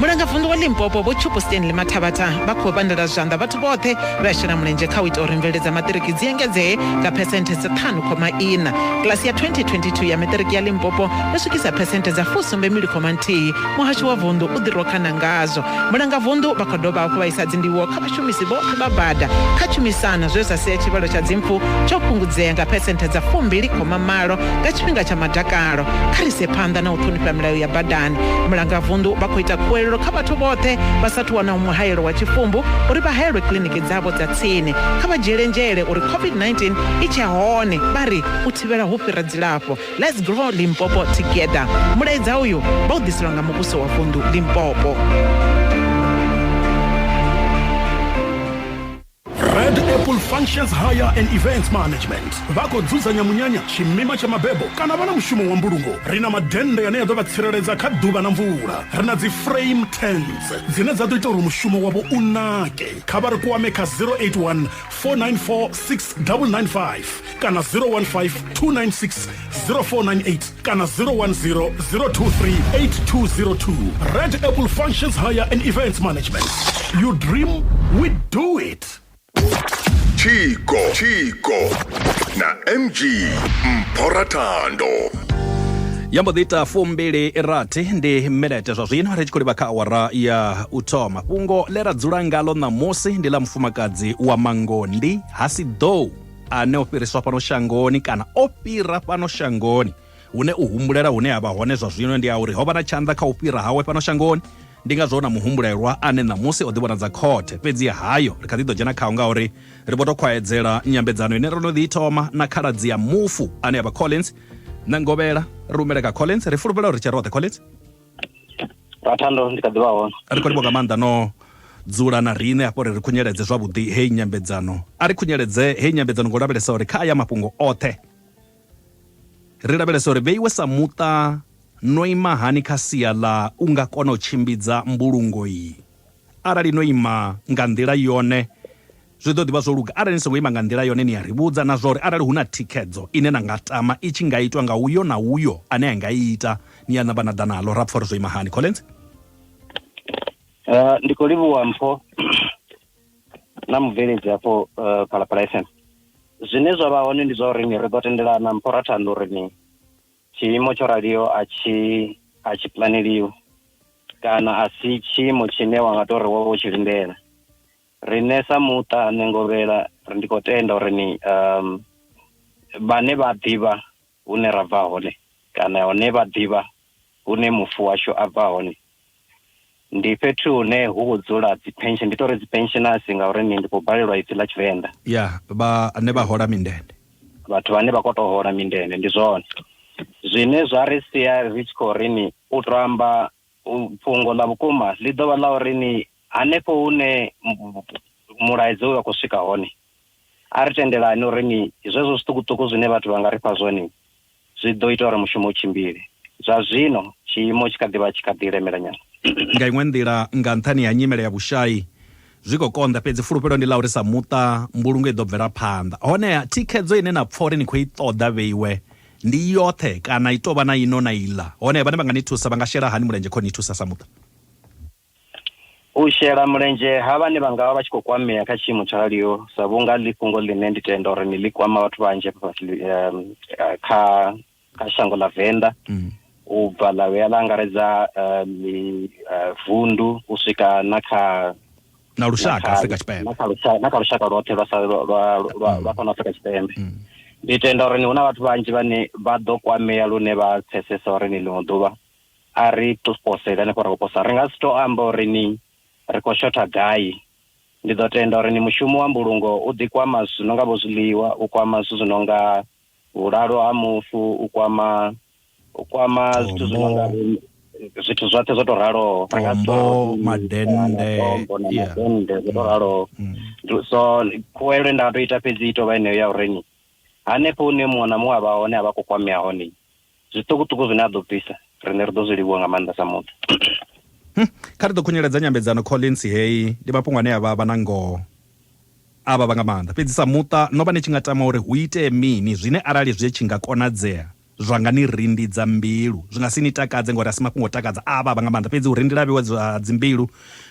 mulangavunḓu wa limpopo vho tshupo stanley mathabatha vha khou pandela zwanḓa vhathu vhoṱhe vha shela mulenzhe kha u ita uri mvelelo dza maṱiriki dzi engedzee nga phesenthe dza ṱhanu khoma ina kilasi ya 2022 ya maṱiriki ya limpopo yo swikisa phesenthe dza fusumbe mbili khoma nthihi muhasho wa vunḓu u ḓirokana ngazwo mulangavunḓu vha khou dovha hafhu vha isa dzindivhuwo kha Vhashumisi vhoṱhe vha bada kha tshumisano zwe zwa sia tshivhalo tsha dzimpfu tsho fhungudzea nga phesenthe dza fumbili khoma malo nga tshifhinga tsha madakalo. Kha ri ise phanḓa na u ṱhonifha milayo ya badani. Mulangavunḓu vha khou ita khuwelelo kha vhathu vhoṱhe vha sa athu wanaho muhaelo wa tshifumbu uri vha haelwe kiḽiniki dzavho dza tsini. Kha vha dzhiele nzhele uri COVID-19 i tshe hone, vha ri, u thivhela hu fhira dzilafho. Let's grow Limpopo together. Mulaedza uyu vha u ḓiselwa nga muvhuso wa vundu Limpopo. Red Apple Functions Hire and Events Management vha khou dzudzanya munyanya tshimima tsha mabebo kana vha na mushumo wa mbulungo ri na madennde ane a ḓo vha tsireledza kha ḓuvha na mvula ri na dzi frame tents dzine dza ḓo ita uri mushumo wavho u nake kha vha ri kwame kha 081 494 6995 kana 015 296 0498 kana 010 023 8202 red apple functions higher and events management you dream we do it Chico, Chico, na MG Mporatando. ya mbo ḓi ita fumbili rathi ndi minete zwa zwino ri tshi khou livha kha awara ya u thoma fhungo ḽe ra dzula ngalo ṋamusi ndi ḽa mufumakadzi wa mangondi ha si ḓou ane o fhiriswa fhano shangoni kana o fhira fhano shangoni hune u humbulela hune ha vha hone zwa zwino ndi a uri ho vha na tshanḓa kha u fhira hawe fhano shangoni ndi ngazwo na muhumbulelwa ane ṋamusi o ḓivhonadza khothe fhedzi hayo ri kha ḓi ḓo dzhena khao ngauri ri vho tou khwaedzela nyambedzano ine ro no ḓi thoma na khaladzi ya mufu ane a vha collins na ngovhela ri humele kha collins ri fulufhela uri tshe roṱhe collins ra thando ndi kha ḓivha hone ri khou livho nga maanḓa no dzula na riṋe hafho ri ri khunyeledze zwavhuḓi heyi nyambedzano a ri khunyeledze heyi nyambedzano ngo lavhelesa uri kha aya mafhungo oṱhe ri lavhelesa uri vheiwe sa muṱa no ima hani kha sia ḽa u nga kona u tshimbidza mbulungo iyi arali no ima nga nḓila yone Zwi ḓo ḓi vha zwo luga arali ni songo ima nga nḓila yone ni a ri vhudza na zwa uri arali hu na thikhedzo ine na nga tama i tshi nga itwa nga uyo na uyo ane a nga i ita, ni a namba na ḓa naḽo ra pfa uri zwo ima hani. Collins. Uh, ndi khou livhuwa mpho na mubveledzi hafho uh, phalaphala fm zwine zwa vha hone ndi zwa uri ni ri ḓo tendelana mpho ra thanda uri ni tshiimo tsho raliho a tshi a tshi planeliwi kana a si tshiimo tshine wa nga tou ri wo vha u tshi lindela Riṋe sa muṱa nṋe Ngovhela ri ndi khou tenda uri ni um, vhane vha ḓivha hune ra bva hone kana hone vha ḓivha hune mufu washu a bva hone ndi fhethu hune hu khou dzula dzipension ndi tori dzipensionasi ngauri ni ndi khou balelwa ipfi ḽa tshivenḓa ya vhane vha hola mindende vhathu vhane vha khou tou hola mindende ndi zwone zwine zwa ri sia ri tshi khou ri ni u to amba Fhungo ḽa vhukuma ḽi ḓo vha ḽa uri ni hanefho hune mulaedza uyu wa khou swika hone, a ri tendelani uri ni zwezwo zwiṱukuṱuku zwine vhathu vha nga ri fha zwone zwi ḓo ita uri mushumo u tshimbile. Zwa zwino tshiimo tshi kha ḓi vha tshi kha ḓi lemela nyana. Nga iṅwe nḓila, nga nṱhani ha nyimele ya vhushai, zwi khou konḓa, fhedzi fulufhelo ndi ḽa uri sa muṱa mbulungo i ḓo bvela phanḓa. Honeha, thikhedzo ine na pfa uri ni khou i ṱoḓa vheiwe Ndi i yoṱhe kana i tou vha na ino na iḽa? Hone vhane vha nga ni thusa vha nga shela hani mulenzhe kha u ni thusa sa muṱa? U shela mulenzhe ha vhane vha nga vha vha tshi khou kwamea kha tshiimo tsho raliho, sa vhunga ḽi fhungo ḽine ndi tenda uri ni ḽi kwama vhathu vhanzhi hafha fhasi kha kha shango ḽa Venḓa u bva ḽa vhuya ḽa angaredza ḽi vundu u swika na kha na lushaka Afrika Tshipembe na kha lushaka na kha lushaka lwoṱhe lwa sa lwa lwa lwa- lwa fhano Afrika Tshipembe Mm. ndi tenda uri ni huna vhathu vhanzhi vhane vha ḓo kwamea lune vha pfesesa uri ni ḽiṅwe ḓuvha a ri to posela ni khou ri khou posa ri nga si to amba uri ni ri khou shotha gai ndi ḓo tenda uri ni mushumo wa mbulungo u ḓi kwama zwithu zwi no nga vho zwiḽiwa u kwama zwithu zwi no nga vhulalo ha mufu u kwama u kwama zwithu zwi no nga zwithu zwoṱhe zwo to raloho tombo madennde madennde zwo to raloho mm, mm. so khuwelwe nda to ita fhedzi i tovha eneyo ya u renyi hanefho hune muṅwe na muṅwe a vha hone a vha khou kwamea hone zwiṱukuṱuku zwine a ḓo bvisa riṋe ri ḓo zwi livhuwa nga maanḓa sa muṱa hmm, kha ri ḓo khunyeledza nyambedzano collins heyi ndi mafhungo ane a vha vha na ngoho a vha vha nga maanḓa fhedzi sa muṱa no vha ni tshi nga tama uri hu itee mini zwine arali zwi tshi nga konadzea zwa nga ni rindidza mbilu zwi nga si ni takadze ngori a si mafhungo o takadza a vha vha nga maanḓa fhedzi u rindila vhiwa dza dzimbilu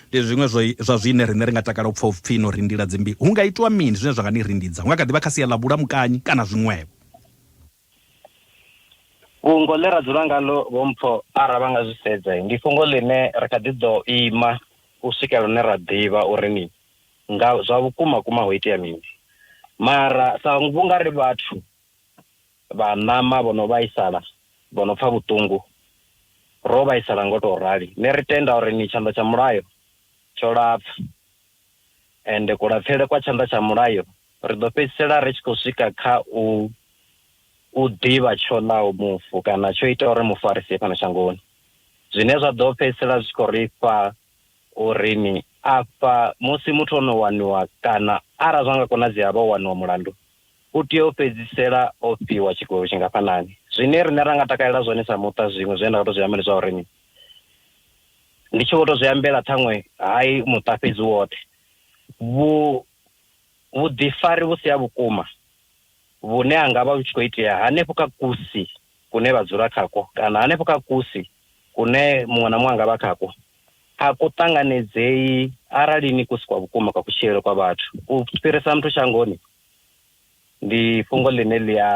ndi zwiṅwe zwa zwine riṋe ri nga takala u pfa upfhi no rindila dzimbilu hu nga itwa mini zwine zwa nga ni rindidza hu nga kha ḓi vha kha sia ḽa vhulamukanyi kana zwiṅwevho Fhungo ḽe ra dzula ngaḽo vhompho ara vha nga zwi sedza ndi fhungo ḽine ri kha ḓi ḓo ima u swikela hune ra ḓivha uri ni nga zwa vhukuma kuma ho itea mini mara sa vhunga ri vhathu vha ṋama vho no vhaisala vho no pfha vhuṱungu ro vhaisala ngo tou rali ne ri tenda uri ni tshanḓa tsha mulayo tsho lapfa. Ende kulapfele kwa tshanḓa tsha mulayo, ri ḓo fhedzisela ri tshi khou swika kha u u ḓivha tsho ḽaho mufu kana tsho itaho uri mufu a ri sie fhano shangoni, zwine zwa ḓo fhedzisela zwi tshi khou ri fha uri ni afha musi muthu o no waniwa kana arali zwa nga konadzea a vha o waniwa mulandu, u tea u fhedzisela o fhiwa tshigwevho tshingafhanani. Zwine riṋe ra nga takalela zwone sa muṱa zwiṅwe zwine nda nga tou zwi amba ndi zwa uri ni. ndi tshi vho to zwi ambela ṱhaṅwe hai muṱa fhedzi woṱhe vhu vhuḓifari vhu si ha vhukuma vhune ha nga vha vhu tshi khou itea hanefho kha kusi kune vha dzula khakwo kana hanefho kha kusi kune muṅwe na muṅwe anga vha khakwo a ku ṱanganedzei arali ni kusi kwa vhukuma kwa kutshilele kwa vhathu u fhirisa muthu shangoni Ndi fhungo ḽine ḽi a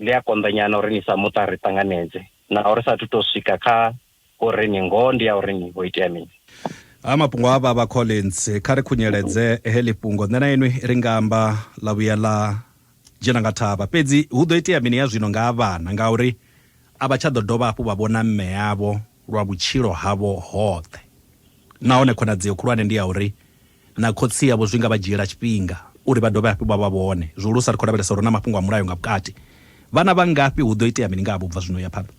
ḽi a konḓa nyana uri ni sa muṱa ri ṱanganedze naho ri sathu tou swika kha uri ni ngoho ndi ya uri ni ho itea mini. Ha mafhungo a vhavha Collins, kha ri khunyeledze heḽi fhungo nṋe na inwi ri nga amba ḽa vhuya ḽa dzhena nga thavha. Fhedzi hu ḓo itea mini ya zwino nga ha vhana ngauri a vha tsha ḓo dovha hafhu vha vhona mme avho lwa vhutshilo havho hoṱhe nahone khonadzeo khulwane ndi ya uri na khotsi avho zwi nga vha dzhiela tshifhinga uri vha dovhe hafhu vha vha vhone. Zwihulusa ri khou lavhelesa uri hu na mafhungo a mulayo nga vhukati. Vhana vha ngafhi? Hu ḓo itea mini nga havho u bva zwino u ya phanḓa?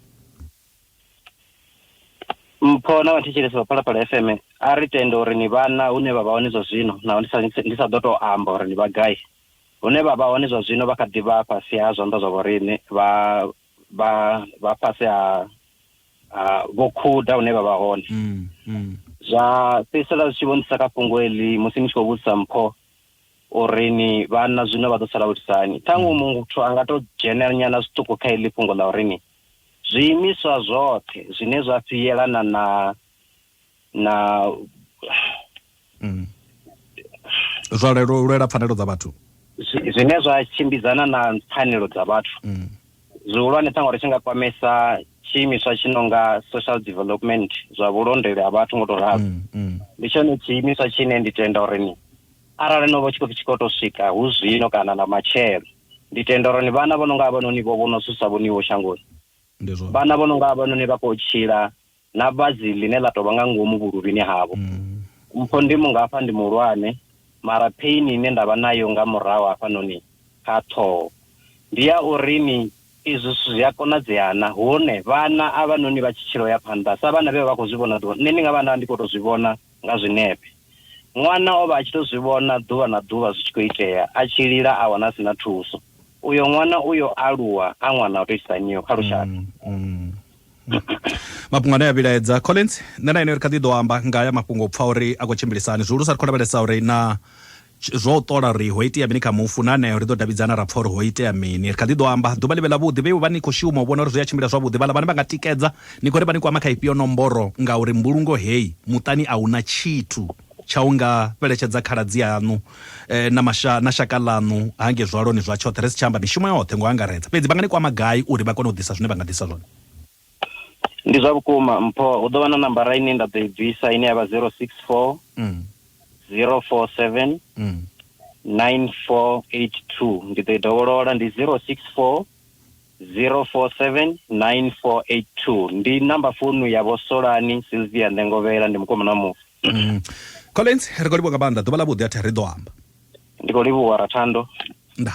Mpho na vhathetshelesi vha Phalaphala FM, a ri tende uri ni vhana hune vha vha hone zwa zwino, naho ndi sa, ndi sa ḓo tou amba uri ndi vha gai. Hune vha vha hone zwa zwino vha kha ḓi vha fhasi ha zwanḓa zwa vhoriṋe, vha, vha vha fhasi ha ha vho khuda hune vha vha hone mm, mm. zwa fhedzisela zwi tshi vhonisa kha fhungo eḽi musi ni tshi khou vhudzisa mpho uri ni vhana zwino vha ḓo sala vho itisani ṱhaṅwe mm. muthu a nga tou dzhenela nyana zwiṱuku kha eḽi fhungo ḽa uri ni zwiimiswa zwoṱhe zwine zwa fhiyelana na na mm. zwa lelo lwela pfanelo dza vhathu zwine zwa tshimbidzana na pfanelo dza vhathu mm. zwihulwane ṱhaṅwe ri tshi nga kwamesa tshiimiswa tshi nonga social development zwa vhulondeli ha vhathu ngo to ralo mm, mm. ndi tshone tshiimiswa tshine ndi tenda uri ni arali no vha tshi khou tshi khou to swika hu zwino kana na matshelo ndi tenda uri ni vhana vho no nga vhanoni vho vhono susa vhoniwo shangoni vhana vho no nga vhanoni vha khou tshila na vhadzi ḽine ḽa tovha nga ngomu vhuluvhini havho. Mm. Mpho ndi mungafha ndi muhulwane, mara pain ine ndavha nayo nga murahu hafhanoni kha ṱhoho ndi ya uri ni izwi zwithu zwi a konadzea na hone vhana a vha noni vha tshi tshilo ya phanḓa sa vhana vhe vha khou zwi vhona ḓuvha nṋe ndi nga vha nda ndi khou tou zwi vhona nga zwinepe ṅwana o vha a tshi tou zwi vhona ḓuvha na ḓuvha zwi tshi khou itea a tshi lila a wana a si na thuso uyo ṅwana uyo aluwa a ṅwana o tou itisa niyo kha lushaka mm, mm. mafhungo ane a vhilaedza collins nṋe na ine ri kha ḓi ḓo amba nga ya mafhungo u pfa uri a khou tshimbilisani zwihulu sa ri khou lavhelesa uri na zwo u ṱola uri ho itea mini kha mufu na aneo ri ḓo davhidzana ra pfa uri ho itea mini ri kha ḓi ḓo amba ḓuvha ḽi vhe ḽavhuḓi vhe vha ni khou shuma u vhona uri zwi a tshimbila zwavhuḓi vhala vhane vha nga tikedza ni khou ri vha ni kwama kha ifhio nomboro ngauri mbulungo heyi muṱani a huna tshithu tsha u nga fheletshedza khaladzi aṋu na masha na shaka ḽaṋu hangei zwaloni zwa tshoṱhe, ri si tsha amba mishumo yoṱhe ngo angaredza. Fhedzi vha nga ni kwama gai uri vha kone u ḓisa zwine vha nga ḓisa zwone? Ndi zwa vhukuma, Mpho. Hu ḓo vha na nambara ine nda ḓo i bvisa ine ya vha 0640479482. Ndi ḓo i dovholola, ndi 0640479482. Ndi namba founu ya Vho Solani Silvia Ndengovhela, ndi mukomana wa mufu. Mm. collins ri khou livhuwa nga maanḓa ḓuvha ḽa vhuḓi athi ri ḓo amba ndi khou livhuwa rathando nda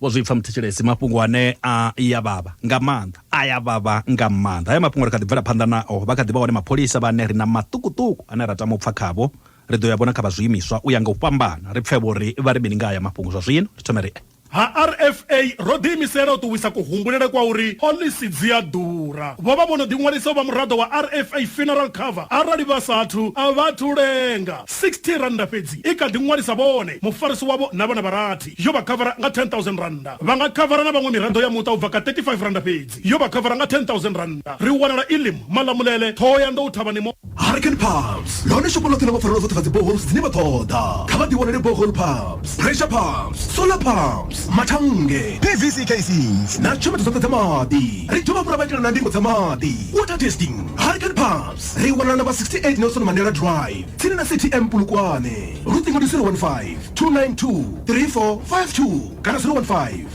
vho zwi pfa muthetshelesi mafhungo ane a ya vhavha nga maanḓa a ya vhavha nga maanḓa haya mafhungo ri kha ḓi bvela phanḓa nao vha kha ḓi vha hone mapholisa vhane ri na maṱukuṱuku ane ra tama u pfa khavho ri ḓo ya vhona kha vha zwiimiswa u ya nga u fhambana ri pfhe vho ri vha ri mini nga haya mafhungo zwa zwino ri thome ri Ha RFA ro ḓiimisela u ṱuwisa kuhumbulele kwa uri phoḽisi dzi a ḓura. Vho vha vho no ḓiṅwalisa u vha muraḓo wa RFA Funeral Cover arali vha sa athu a vha athu lenga. R60 fhedzi i kha ḓi ṅwalisa vhone, mufarisi wavho na vhana vha rathi. Yo vha khavara nga R10,000. Vha nga khavara na vhaṅwe miraḓo ya muṱa u bva kha R35 fhedzi. Yo vha khavara nga R10,000. Ri wanala Elim, Malamulele, Thohoyandou, Thavhani Mall. Hurricane Pumps, ḽone shopho ḽoṱhe ḽa vhapfarelwa dzoṱhe dza dzi boreholes dzine vha ṱoḓa. Kha vha ḓiwanele borehole pumps, pressure pumps, solar pumps, mathannge, PVC casings na tshomedzo dzoṱhe dza maḓi. Ri dovha hafhu ra vha itela na ndingo dza maḓi, water testing. Hurricane Pumps ri wanala namba 68 Nelson Mandela Drive, tsini na City Amp Polokwane. Luṱingo ndi 015 292 3452 kana 015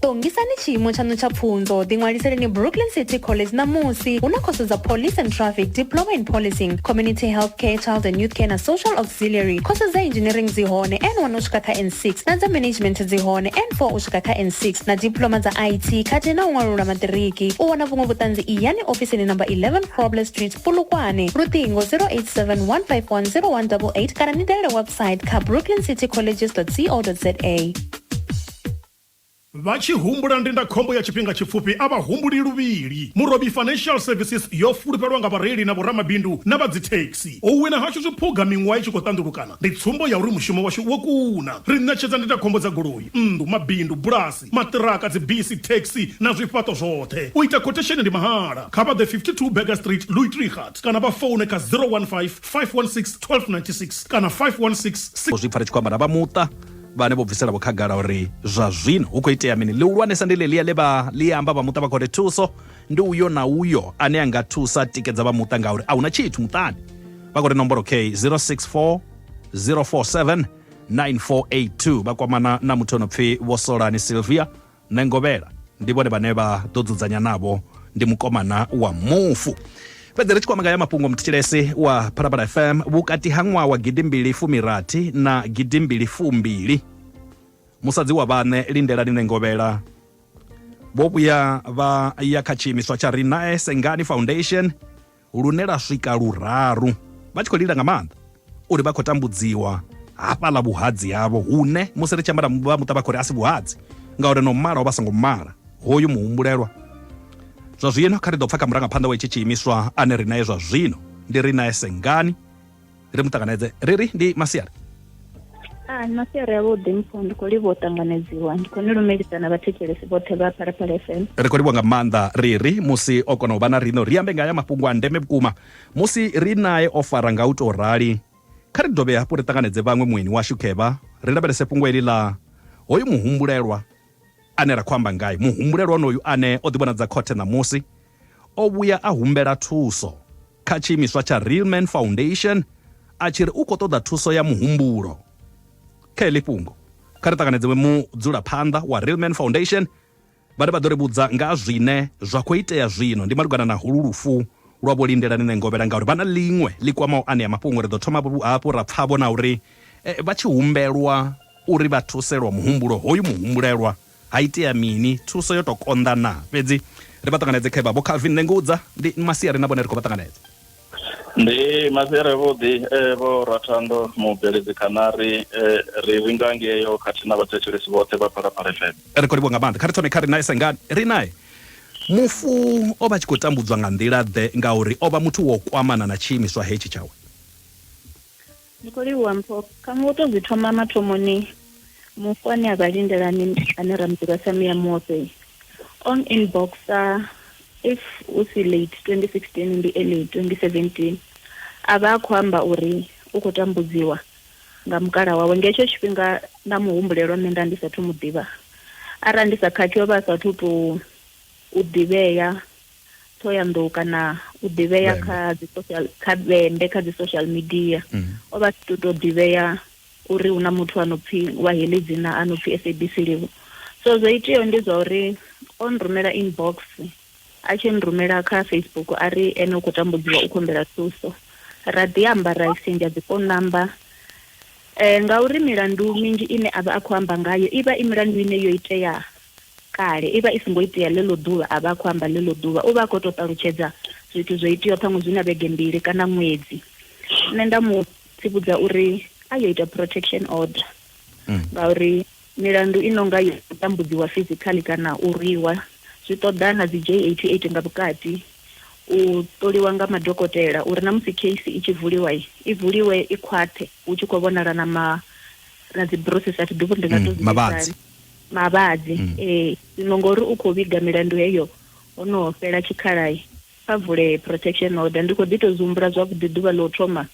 ṱongisani tshiimo tshaṋu tsha pfunzo ḓiṅwaliseleni brooklyn city college ṋamusi hu na khoso dza police and traffic diploma in policing community health care child and youth care na social auxiliary khoso dza engineering dzi hone n1 u swika kha n6 na dza management dzi hone n4 u swika kha n6 na diploma dza it khathihi na u ṅwalulula maṱiriki u wana vhuṅwe vhuṱanzi iyani ofisini namba 11 problem street pulukwane luṱingo 0871510188 kana ni dalele website kha brooklyn city colleges co za Vha tshi humbula ndindakhombo ya tshifhinga tshipfufhi a vha humbuli luvhili. Murobi Financial Services yo fulufhelwa nga vhareili na vhoramabindu na vha dzithekhisi. U wina hashu zwiphuga miṅwaha i tshi khou ṱanḓulukana ndi tsumbo ya uri mushumo washu wo kuna. Ri ṋetshedza ndindakhombo dza goloi, nnḓu, mabindu, bulasi, maṱiraka, dzibisi, thekhisi na zwifhaṱo zwoṱhe. U ita khothesheni ndi mahala. Kha vha ḓe 52 Burger Street, Louisdriegaart kana vha foune kha 015 516 1296 kana 516 6. Zwi pfa ri tshi khou amba na vha muṱa. vhane vho bviselavo khagala uri zwa zwino hu khou itea mini ḽihulwanesa ndi ḽeḽia ḽe vha ḽi amba vha muṱa vha khou ri thuso ndi uyo na uyo ane a nga thusa tikedza vha muṱa ngauri a hu na tshithu muṱani vha khou ri nomboro k 064 047 9482 vha kwamana na muthu o no pfi vho solani silvia Nṋe Ngovhela ndi vhone vhane vha ḓo dzudzanya navho, ndi mukomana wa mufu. Fhedzi ri tshi kwamagaya mafhungo, muthetshelesi wa Phalaphala FM vhukati ha ṅwaha wa gidimbili fumi rathi na gidimbili fumbili, musadzi wa vhaṋe Lindelani Nṋe Ngovhela, vho vhuya vha ya kha tshiimiswa tsha Ri Nae Sengani Foundation, lune lwa swika luraru vha tshi khou lila nga maanḓa uri vha khou tambudziwa hafhaḽa vhuhadzi havho hune musi ri tshi amba vha muṱa vha khou ri a si vhuhadzi ngauri no mala o vha songo mala hoyu muhumbulelwa zwa zwino kha ri ḓo pfha kha murangaphanḓa wa itshi tshiimiswa ane ri naye zwa zwino ndi ri naye sengani ri mu ṱanganedze ri ri ndi masiari a ni masiari avhuḓi mpho ndi khou livha u ṱanganedziwa ndi khou ni lumelisa na vhathetshelesi vhoṱhe vha phalaphala fm ri khou livha nga maanḓa ri ri musi o kona u vha na rino ri ambe nga ya mafhungo a ndeme vhukuma musi ri nae o fara nga u tou rali kha ri dovhe hafhu ri ṱanganedze vhaṅwe mueni washu khevha ri lavhelese fhungo eli ḽa hoyu muhumbulelwa Ane ra khou amba ngae, muhumbulelwa onoyu ane o ḓivhonadza khothe ṋamusi, o vhuya a humbela thuso kha tshiimiswa tsha Real Man Foundation a tshi ri u khou ṱoḓa thuso ya muhumbulo. Kha heḽi fhungo, kha ri ṱanganedze mudzulaphanḓa wa Real Man Foundation vhane vha ḓo ri vhudza nga ha zwine zwa khou itea zwino. Ndi malugana na holu lufu lwa Vho Lindelani Nengovhela ngauri vha na ḽiṅwe ḽi kwamaho anea mafhungo. Ri ḓo thoma hafhu ra pfa-vho na uri vha tshi humbelwa Uri vha thuse lwa muhumbulo hoyu muhumbulelwa, ha itea mini? Thuso yo tou konḓa naa? Fhedzi ri vha ṱanganedze khe vha Vho Calvin. Nṋe ngudza, ndi masiari na vhone ri khou vha ṱanganedza. Ndi masiari avhuḓi e Vho Ratando Mubveledzi Khanari ri vhinga ngeo khathihi na vhathetshelesi vhoṱhe vha Phalaphala FM. Ri khou livhuwa nga maanḓa. Kha ri thome kha ri nae sengani. Ri nae. Mufu o vha a tshi khou tambudzwa nga nḓila-ḓe? Ngauri o vha muthu wo kwamana na tshiimiswa hetshi tshawe. Ni khou livhuwa mpho. Kha ngo tou zwi thoma mathomoni, Mufu ane a vha lindela ni, ane ra mu ḓivha sa Muya Muoṱi, o n-inboxer, if hu si late 2016 ndi early 2017, a vha a khou amba uri u khou tambudziwa nga mukala wawe. Nga hetsho tshifhinga nda mu humbulela uri nṋe nda ndi sa athu mu ḓivha. Arali ndi sa khakhi o vha a sa athu tou u ḓivhea Thohoyanḓou kana u ḓivhea kha dzi social kha vhembe kha dzi social media mm. o vha si to ḓivhea uri hu na muthu a no pfhi wa heḽi dzina a no pfhi SABC Livho so zwo iteaho ndi zwa uri o nrumela inbox a tshi nrumela kha Facebook a ri ene u khou tambudziwa u khombela thuso ra ḓi amba ra exchange dzi phone number eh ngauri milandu minzhi ine avha a khou amba ngayo ivha i milandu ine yo itea kale, i vha i songo itea ḽeḽo ḓuvha a vha a khou amba ḽeḽo ḓuvha, u vha a khou tou ṱalutshedza zwithu zwo iteaho ṱhaṅwe zwi na vhege mbili kana ṅwedzi. Nṋe nda mu tsivhudza uri a yo ita protection order ngauri milandu i nonga yo tambudziwa physically kana u rwiwa zwi ṱoḓa na dzi J88 nga vhukati, u ṱoliwa nga madokotela uri na musi case i tshi vuliwa i vuliwe i khwaṱhe hu tshi khou vhonala na ma na dzi bruises a thi ḓivhi uri ndi nga to zwi vhidza hani. Mavhadzi, mm. Ee, zwino ngori u khou vhiga milandu heyo ho no fhela tshikhala-i, kha vule protection order. Ndi khou ḓi tou zwi humbula zwavhuḓi ḓuvha ḽa u thoma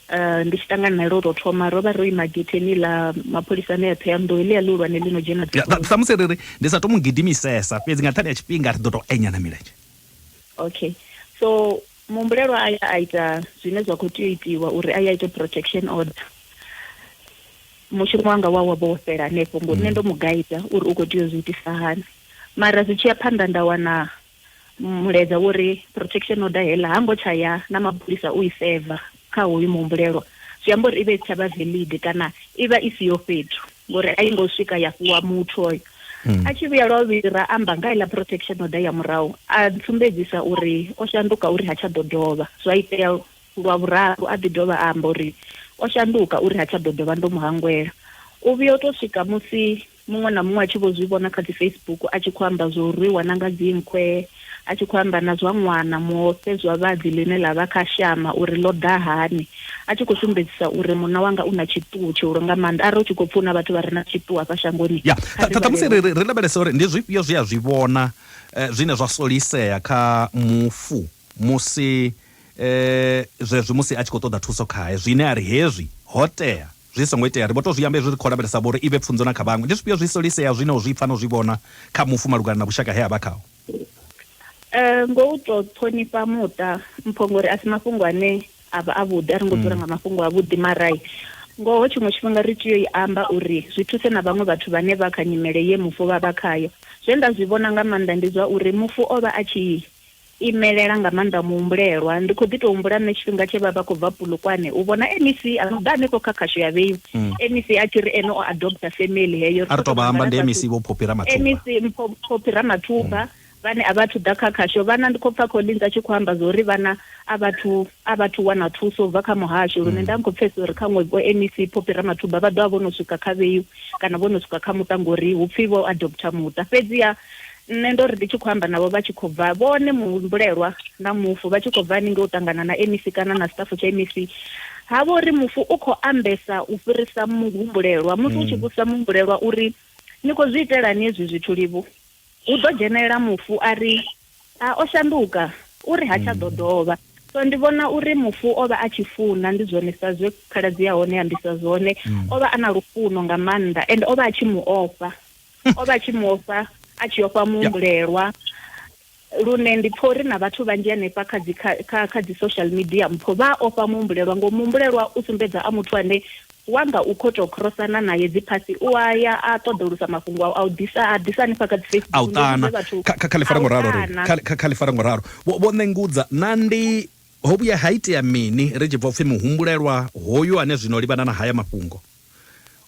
eh, ndi tshi ṱangana nae lwo tou thoma ro vha ro ima getheni ḽa mapholisa ane a Thohoyandou heḽia ḽihulwane ḽi no dzhena samusi ri ri ndi sa to mu gidimisesa fhedzi nga nṱhani ya tshifhinga ri ḓo tou enyana milenzhe okay so Muhumbulelwa a ya a ita zwine zwa khou tea u itiwa uri a ye a ite protection order. Mushumo wanga wa wa vha wo fhela hanefho ngori nṋe ndo mu guider uri u khou tea u zwi itisa hani. Mara zwi tshi ya phanḓa nda wana mulaedza wo ri protection order heiḽa ha ngo tsha ya na mapholisa u i server kha hoyu muhumbulelwa. Zwi amba uri i vha i si tsha vha valid kana i vha i siho fhethu. ngori a yi ngo swika ya fhiwa muthu oyo mm. a tshi vhuya lwa vhili ra amba nga iḽa protection order ya murahu a ntsumbedzisa uri o shanduka uri ha tsha ḓo dovha zwa itea lwa vhuraru a ḓi dovha a amba uri o shanduka uri ha tsha ḓo dovha ndo mu hangwela u vhuya u tou swika musi muṅwe na muṅwe a tshi vho zwi vhona kha dzi facebook a tshi khou amba zwo rwiwa na nga dzinkhwe a tshi khou amba na zwa ṅwana, muofhe zwavhadzi ḽine ḽa vha kha shama uri ḽo ḓa hani, a tshi khou sumbedzisa uri munna wanga u na tshiṱuhu tshihulu nga maanḓa. Arali u tshi khou pfa hu na vhathu vha re na tshiṱuhu hafha shangoni, Ya. kha ri Ṱha, ṱhamusi vhalele. ri, ri lavhelese uri ndi zwifhio zwe a zwi vhona eh, zwine zwa solisea kha mufu musi eh, zwezwi musi a tshi khou ṱoḓa thuso khae, zwine a ri hezwi ho tea. Zwi songo itea, ri vho tou zwi amba hezwi ri khou lavhelesa vho uri i vhe pfunzo na kha vhaṅwe. Ndi zwifhio zwi soliseaho zwine u zwi pfa na u zwi vhona kha mufu malugana na vhushaka he a vha khaho? Ngoho u tou ṱhonifha muṱa mpho ngori a si mafhungo ane a vha avhuḓi, a ri ngo dzula nga mafhungo avhuḓi. Mara ngoho tshiṅwe tshifhinga ri tea u i amba uri zwi thuse na vhaṅwe vhathu vhane vha kha nyimele ye mufu vha vha khayo. Zwe nda zwi vhona nga maanḓa ndi zwa uri mufu o vha a tshi imelela nga maanḓa muhumbulelwa. Ndi khou ḓi tou humbula nṋe tshifhinga tshe vha vha khou bva Polokwane u vhona MEC a no ḓa hanefho kha khasho ya Vheyu, MEC a tshi ri ene o adopter family heyo, ri khou tou mangala fhasi. MEC Mpho Phophi Ramathuba vhane a vha athu ḓa kha khasho, vhana ndi khou pfa Collins a tshi khou amba zwa uri vhana a vha athu a vha athu wana thuso u bva kha muhasho lune nda ndi khou pfesesa uri khaṅwe vho MEC Phophi Ramathuba vha ḓo vha vho no swika kha Vheyu kana vho no swika kha muṱa ngori hu pfi vho adopter muṱa. Fhedziha Nṋe ndo ri ndi tshi khou amba navho vha tshi khou bva, vhone muhumbulelwa na mufu vha tshi khou bva haningei u ṱangana na MEC kana na sṱafu tsha MEC, ha vha uri mufu u khou ambesa u fhirisa muhumbulelwa. Musi u tshi vhudzisa muhumbulelwa u ri, Ni khou zwi itelani hezwi zwithu, Livhu? hu ḓo dzhenelela mufu a ri, A, o shanduka, u ri ha tsha ḓo dovha. So ndi vhona uri mufu o vha a tshi funa, ndi zwone sa zwe khaladzi ya hone ya ambisa zwone, o vha a na lufuno nga maanḓa ende o vha a tshi mu ofha. o vha tshi mu ofha a tshi ofha muhumbulelwa lune ndi pfha uri na vhathu vhanzhi hanefha kha dzi kha kha dzi social media mpho vha ofha muhumbulelwa ngo muhumbulelwa u sumbedza a muthu ane wanga u khoto crossana naye dzi phasi u a ya a ṱoḓolusa mafhungo a u ḓisa a ḓisa hanefha kha dzi Facebook a u ṱana kha kha ḽifara ngoralo ri kha kha kha ḽifara ngoralo vho vho nengudza na ndi ho vhuya ha itea mini ri tshi bva upfhi muhumbulelwa hoyu ane zwino livhana na haya mafhungo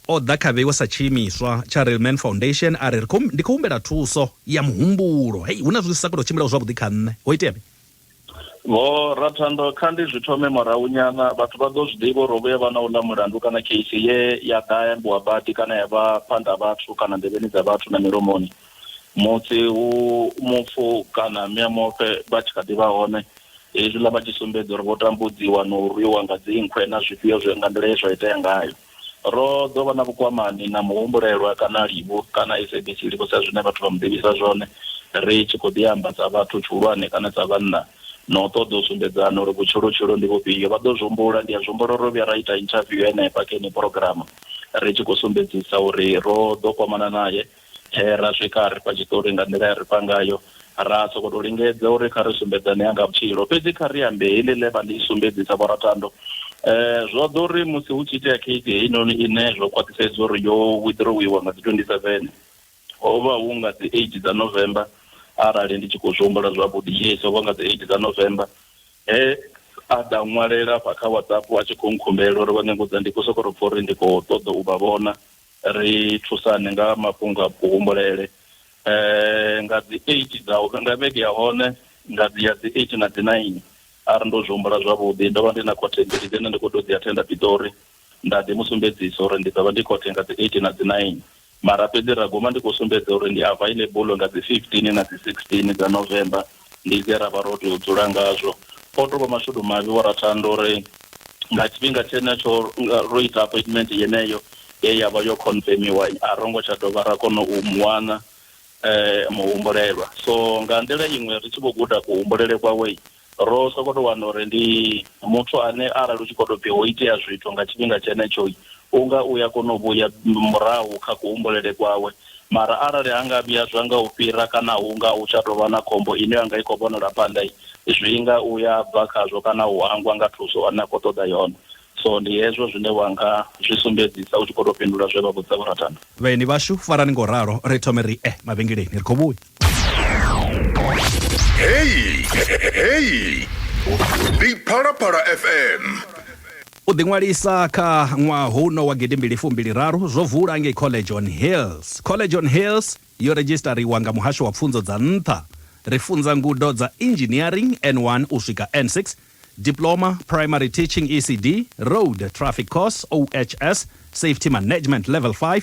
O ḓa kha vheiwe sa tshiimiswa tsha Real Man Foundation a ri, Ri khou, ndi khou humbela thuso ya muhumbulo. Hei, hu na zwithu zwi sa khou tou tshimbilaho zwavhuḓi kha nṋe. Ho itea mini? Vho Rathando, Kha ndi zwi thome murahunyana. Vhathu vha ḓo zwi ḓivha uri ho vhuya vha na uḽa mulandu kana kheisi ye ya ḓa ya ambiwa badi kana ya vha phanḓa ha vhathu kana nḓevheni dza vhathu na milomoni. musi hu mufu kana miamufe vha tshi kha ḓi vha hone, hezwiḽa vha tshi sumbedza uri vho tambudziwa na u rwiwa nga dzinkhwe na zwifhio zwe nga nḓila ye zwa itea ngayo. Ro ḓo vha na vhukwamani na muhumbulelwa kana Livhu kana SABC Livhu sa zwine vhathu vha mu ḓivhisa zwone, ri tshi khou ḓi amba sa vhathu tshihulwane kana sa vhanna na u ṱoḓa u sumbedzana uri vhutshilotshilo ndi vhufhio. Vha ḓo zwi humbula, ndi a zwi humbula uri ro vhuya ra ita inthaviwu henefha kha yeneyi phurogirama ri tshi khou sumbedzisa uri ro ḓo kwamana nae. He ra swika a ri fha tshiṱori nga nḓila ye a ri fha ngayo. Ra sokou tou lingedza uri kha ri sumbedzane ha nga vhutshilo, fhedzi kha ri ambe heḽi ḽe vha ḽi sumbedzisa Vhoratando. Zwo ḓa uri musi hu tshi itea keisi heinoni ine zwo khwaṱhisedzwa uri yo wiḓirowiwa nga dzi 27, ho vha hu nga dzi 8 dza November, arali ndi tshi khou zwi humbula zwavhuḓi, yes, ho vha nga dzi 8 dza November, he a ḓa ṅwalela afha kha WhatsApp a tshi khou nkhumbela uri vha nge ngudza, ndi khou sokou tou pfa uri ndi khou ṱoḓa u vha vhona. Ri thusane nga ha mafhungo a kuhumbulele nga dzi eight dza nga vhege ya hone nga dzi ya dzi eight na dzi nine arali ndo zwi humbula zwavhuḓi. Ndo vha ndi na khothe mbili dzine ndi kho tea u dzi athenda Piṱori nda ḓi mu sumbedzisa uri ndi ḓo vha ndi khothe nga dzi eight na dzi nine mara fhedzi ra guma ndi kho sumbedza uri ndi available nga dzi fifteen na dzi sixteen dza November. ndi zwe ra vha ro tou dzula ngazwo. O tou vha mashudu mavhi wa Rathanda uri nga tshifhinga tshenetsho ro ita appointment yeneyo ye ya vha yo confirmiwa, a ro ngo tsha dovha ra kona u mu wana muhumbulelwa. So nga nḓila iṅwe ri tshi vho guda kuhumbulele kwawe, ro sokou tou wana uri ndi muthu ane arali hu tshi khou tou pfi ho itea zwithu nga tshifhinga tshenetsho, u nga u ya kona u vhuya murahu kha kuhumbulele kwawe. Mara arali ha nga vhuya zwa nga u fhira kana hu nga hu tsha tou vha na khombo ine ya nga i khou vhonala phanḓa, zwi nga u ya bva khazwo kana u hangwa nga thuso ane a khou ṱoḓa yone. So ndi hezwo zwine wa nga zwi sumbedzisa u tshi khou tou fhindula zwe vha vhudza vhurathana. Vhaeni vhashu, farani nga u ralo. Ri thome ri ye mavhengeleni. Ri khou vhuya. Hey, hey. Ndi Phalaphala FM. u ḓiṅwalisa kha ṅwaha huno wa gidimbili fumbili raru zwo vula ngei college on hills college on hills yo redzhistariwa nga muhasho wa pfunzo dza nṱha ri funza ngudo dza engineering n1 u swika n6 diploma primary teaching ecd road traffic course ohs safety management level 5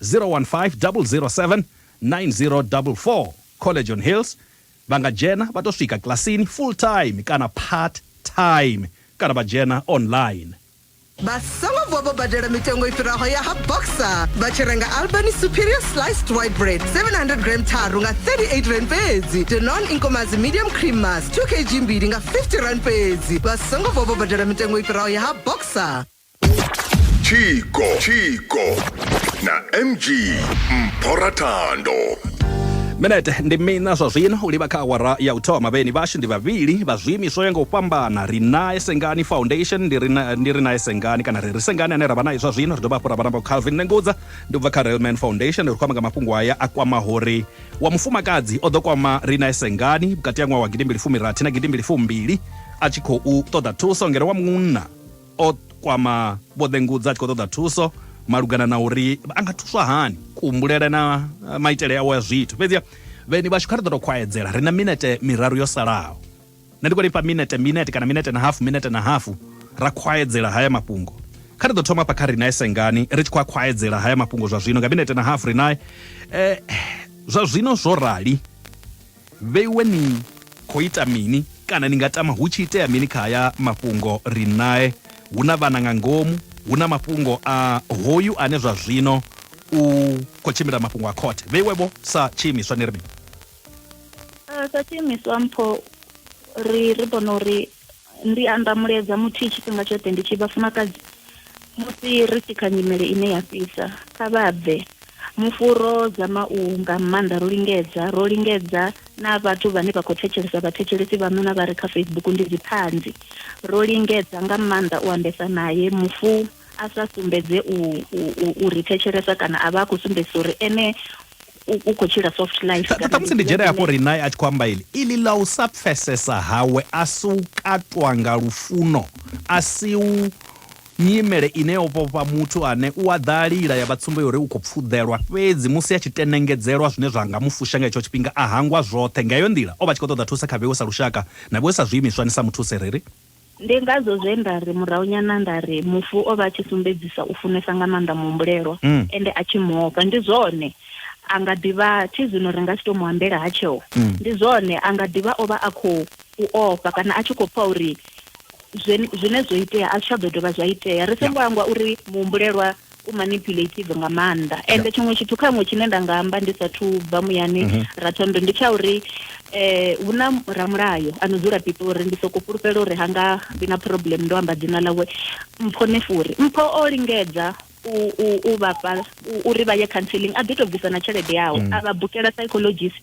015 007 9044 College on Hills vha nga dzhena vha tou swika kilasini full time kana part time kana vha dzhena online. Vha songo vuwa vho badela mitengo i fhiraho ya ha Boxer vha tshi renga Albany Superior Sliced White Bread 700 gram tharu nga 38 rand fhedzi, Danone Inkomazi Medium Cream Mass 2 kg mbili nga 50 rand fhedzi. Vha songo vuwa vho badela mitengo i fhiraho ya ha Boxer. Chico, Chico, na MG Mphorathando. minete ndi mina zwa zwino u livha kha awara ya u thoma vheni vhashu ndi vhavhili vha zwiimiswa u ya nga u fhambana ri nae sengani foundation ndi ri na- ndi ri nae sengani kana ri ri sengani ane ra vha naye zwa zwino ri dovha hafhu ra vha na vho calvin nengudza ndi u bva kha railman foundation ri khou amba nga mafhungo aya a kwamaho ri wa mufumakadzi o ḓo kwama ri nae sengani vhukati ha ṅwaha wa gidimbili fumirathi na gidimbili fumbili a tshi khou ṱoḓa thuso ngeno wa munna o kwama vho ḓengudza a tshi khou ṱoḓa thuso malugana na uri a nga thuswa hani kuhumbulele na eh, maitele awo ya zwithu fhedziha vheni vhashu kha ri ḓo tou khwaedzela ri na minete miraru yo salaho nṋe ndi khou lifha minete minete kana minete na hafu minete na hafu ra khwaedzela haya mafhungo kha ri ḓo thoma hafha kha rinae sengani ri tshi khou a khwaedzela haya mafhungo zwa zwino nga minete na hafu rinae eh, zwa zwino zwo rali Vheiwe ni khou ita mini kana ni nga tama hu tshi itea mini kha haya mafhungo ri nae. Hu na vhana nga ngomu, hu na mafhungo a hoyu ane zwa zwino u khou tshimbila mafhungo a khothe. Vheiwe-vho sa tshiimiswa ni ri mini? Sa tshiimiswa mpho ri ri vhona uri Ndi amba mulaedza muthihi tshifhinga tshoṱhe ndi tshi vhafumakadzi musi ri tshi kha nyimele ine ya fhisa, kha vha bve mufu ro dzama u nga maanḓa ro lingedza, ro lingedza na vhathu vhane vha khou thetshelesa vhathetshelesi vhaṋu na vha re kha Facebook ndi dziṱhanzi, ro lingedza nga maanḓa u ambesa nae mufu a sa sumbedze u ri thetshelesa kana a vha a khou sumbedzisa uri ene u- u khou tshila soft life Ṱa- ṱhamusi ndi dzhena hafho ri naye a tshi khou amba ili ili ḽa u sa pfesesa hawe a si u katwa nga lufuno a si u nyimele ine yo vhofha muthu ane u a ḓa a lila ya vha tsumbo yori u khou pfuḓelwa fhedzi musi a tshi tenengedzelwa zwine zwa nga mu fusha nga hetsho tshifhinga a hangwa zwoṱhe nga heyo nḓila o vha a tshi khou ṱoḓa thusa kha vhewe sa lushaka na vhewe sa zwiimiswa ni sa muthu u sereri Ndi ngazwo zwe nda ri murahunyana nda ri mufu o vha a tshi sumbedzisa u funesa nga maanḓa muhumbulelwa mm. ende a tshi mu ofha. Ndi zwone, a nga ḓi vha thi zwino ri nga si tou mu ambela ha tsheo. Mm. Ndi zwone, a nga ḓi vha o vha a khou u ofha kana a tshi khou pfa uri zwine zwo itea a zwi tsha ḓo dovha zwa itea. Ri songo hangwa uri muhumbulelwa u manipulative nga maanḓa ende tshiṅwe tshithu kha ṅwe tshine nda nga amba ndi sathu bva muyani mhm. rathondo ndi tsha uri eh hu na ramulayo ano dzula pitori ndi soko fhulufhela uri hanga vhi na problem ndo amba dzina ḽawe mpho nefuri mpho o lingedza u vhafha uri vha ye counseling a ḓi to bvisa na tshelede yawe mm. a vha bukela psychologist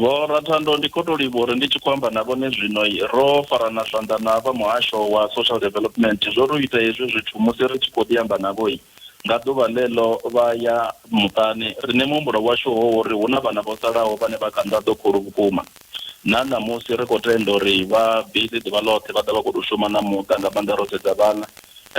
Vho Rathandou, ndi khou tou livhuwa uri ndi tshi khou amba na vhone zwino ro farana zwanḓa na vha muhasho wa Social Development zwo ri u ita hezwi zwithu musi ri tshi khou ḓi amba navho nga ḓuvha ḽeḽo vha ya muṱani, riṋe muhumbulo washu ho uri hu na vhana vho salaho vhane vha kha nḓaḓo khulu vhukuma. Na ṋamusi ri khou tenda uri vha busy ḓuvha ḽoṱhe vha ḓa vha khou tou shuma na muṱa nga maanḓa ro sedza vhana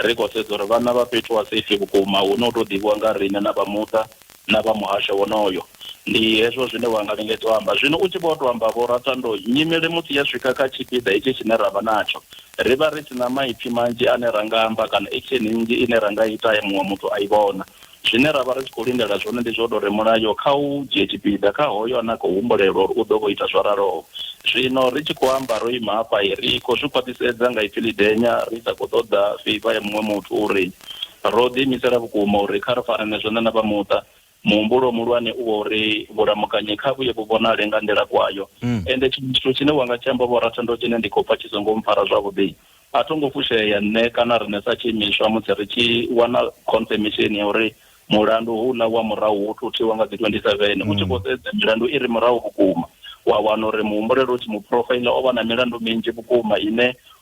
ri khou sedza uri vhana vha fhethu ha safe vhukuma hune hu tou ḓivhiwa nga riṋe na vha muṱa na vha muhasho wonoyo. Ndi hezwo zwine wa nga lingedza u amba. Zwino u tshi vho tou amba, Vho Rathando, nyimele musi ya swika kha tshipiḓa hetshi tshine ra vha natsho, ri vha ri si na maipfi manzhi ane ra nga amba kana action nnzhi ine ra nga ita ye muṅwe muthu a i vhona. Zwine ra vha ri tshi khou lindela zwone ndi zwa u tou ri mulayo kha u dzhie tshipiḓa kha hoyo ane a khou humbulelwa uri u ḓo vho ita zwo raloho. Zwino ri tshi khou amba ro ima hafha, ri khou zwi khwaṱhisedza nga ipfi ḽidenya, ri sa khou ṱoḓa favour ya muṅwe muthu uri Ro ḓiimisela vhukuma uri kha ri farane zwone na vha muṱa. Muhumbulo muhulwane u wa uri vhulamukanyi kha vhuye vhu vhonale nga nḓila kwayo. Ende tshiṅwe tshithu tshine wa nga tshi amba, Vho Ratendo, tshine ndi khou pfa tshi songo mpfara zwavhuḓi. A tho ngo fushea nṋe kana riṋe sa tshiimiswa musi ri tshi wana khonfemisheni ya uri mulandu houḽa wa murahu wo thuthiwa nga dzi 27. U tshi khou sedza milandu i re murahu vhukuma, wa wana uri muhumbuleli u tshi mu phurofaiḽa o vha na milandu minzhi vhukuma ine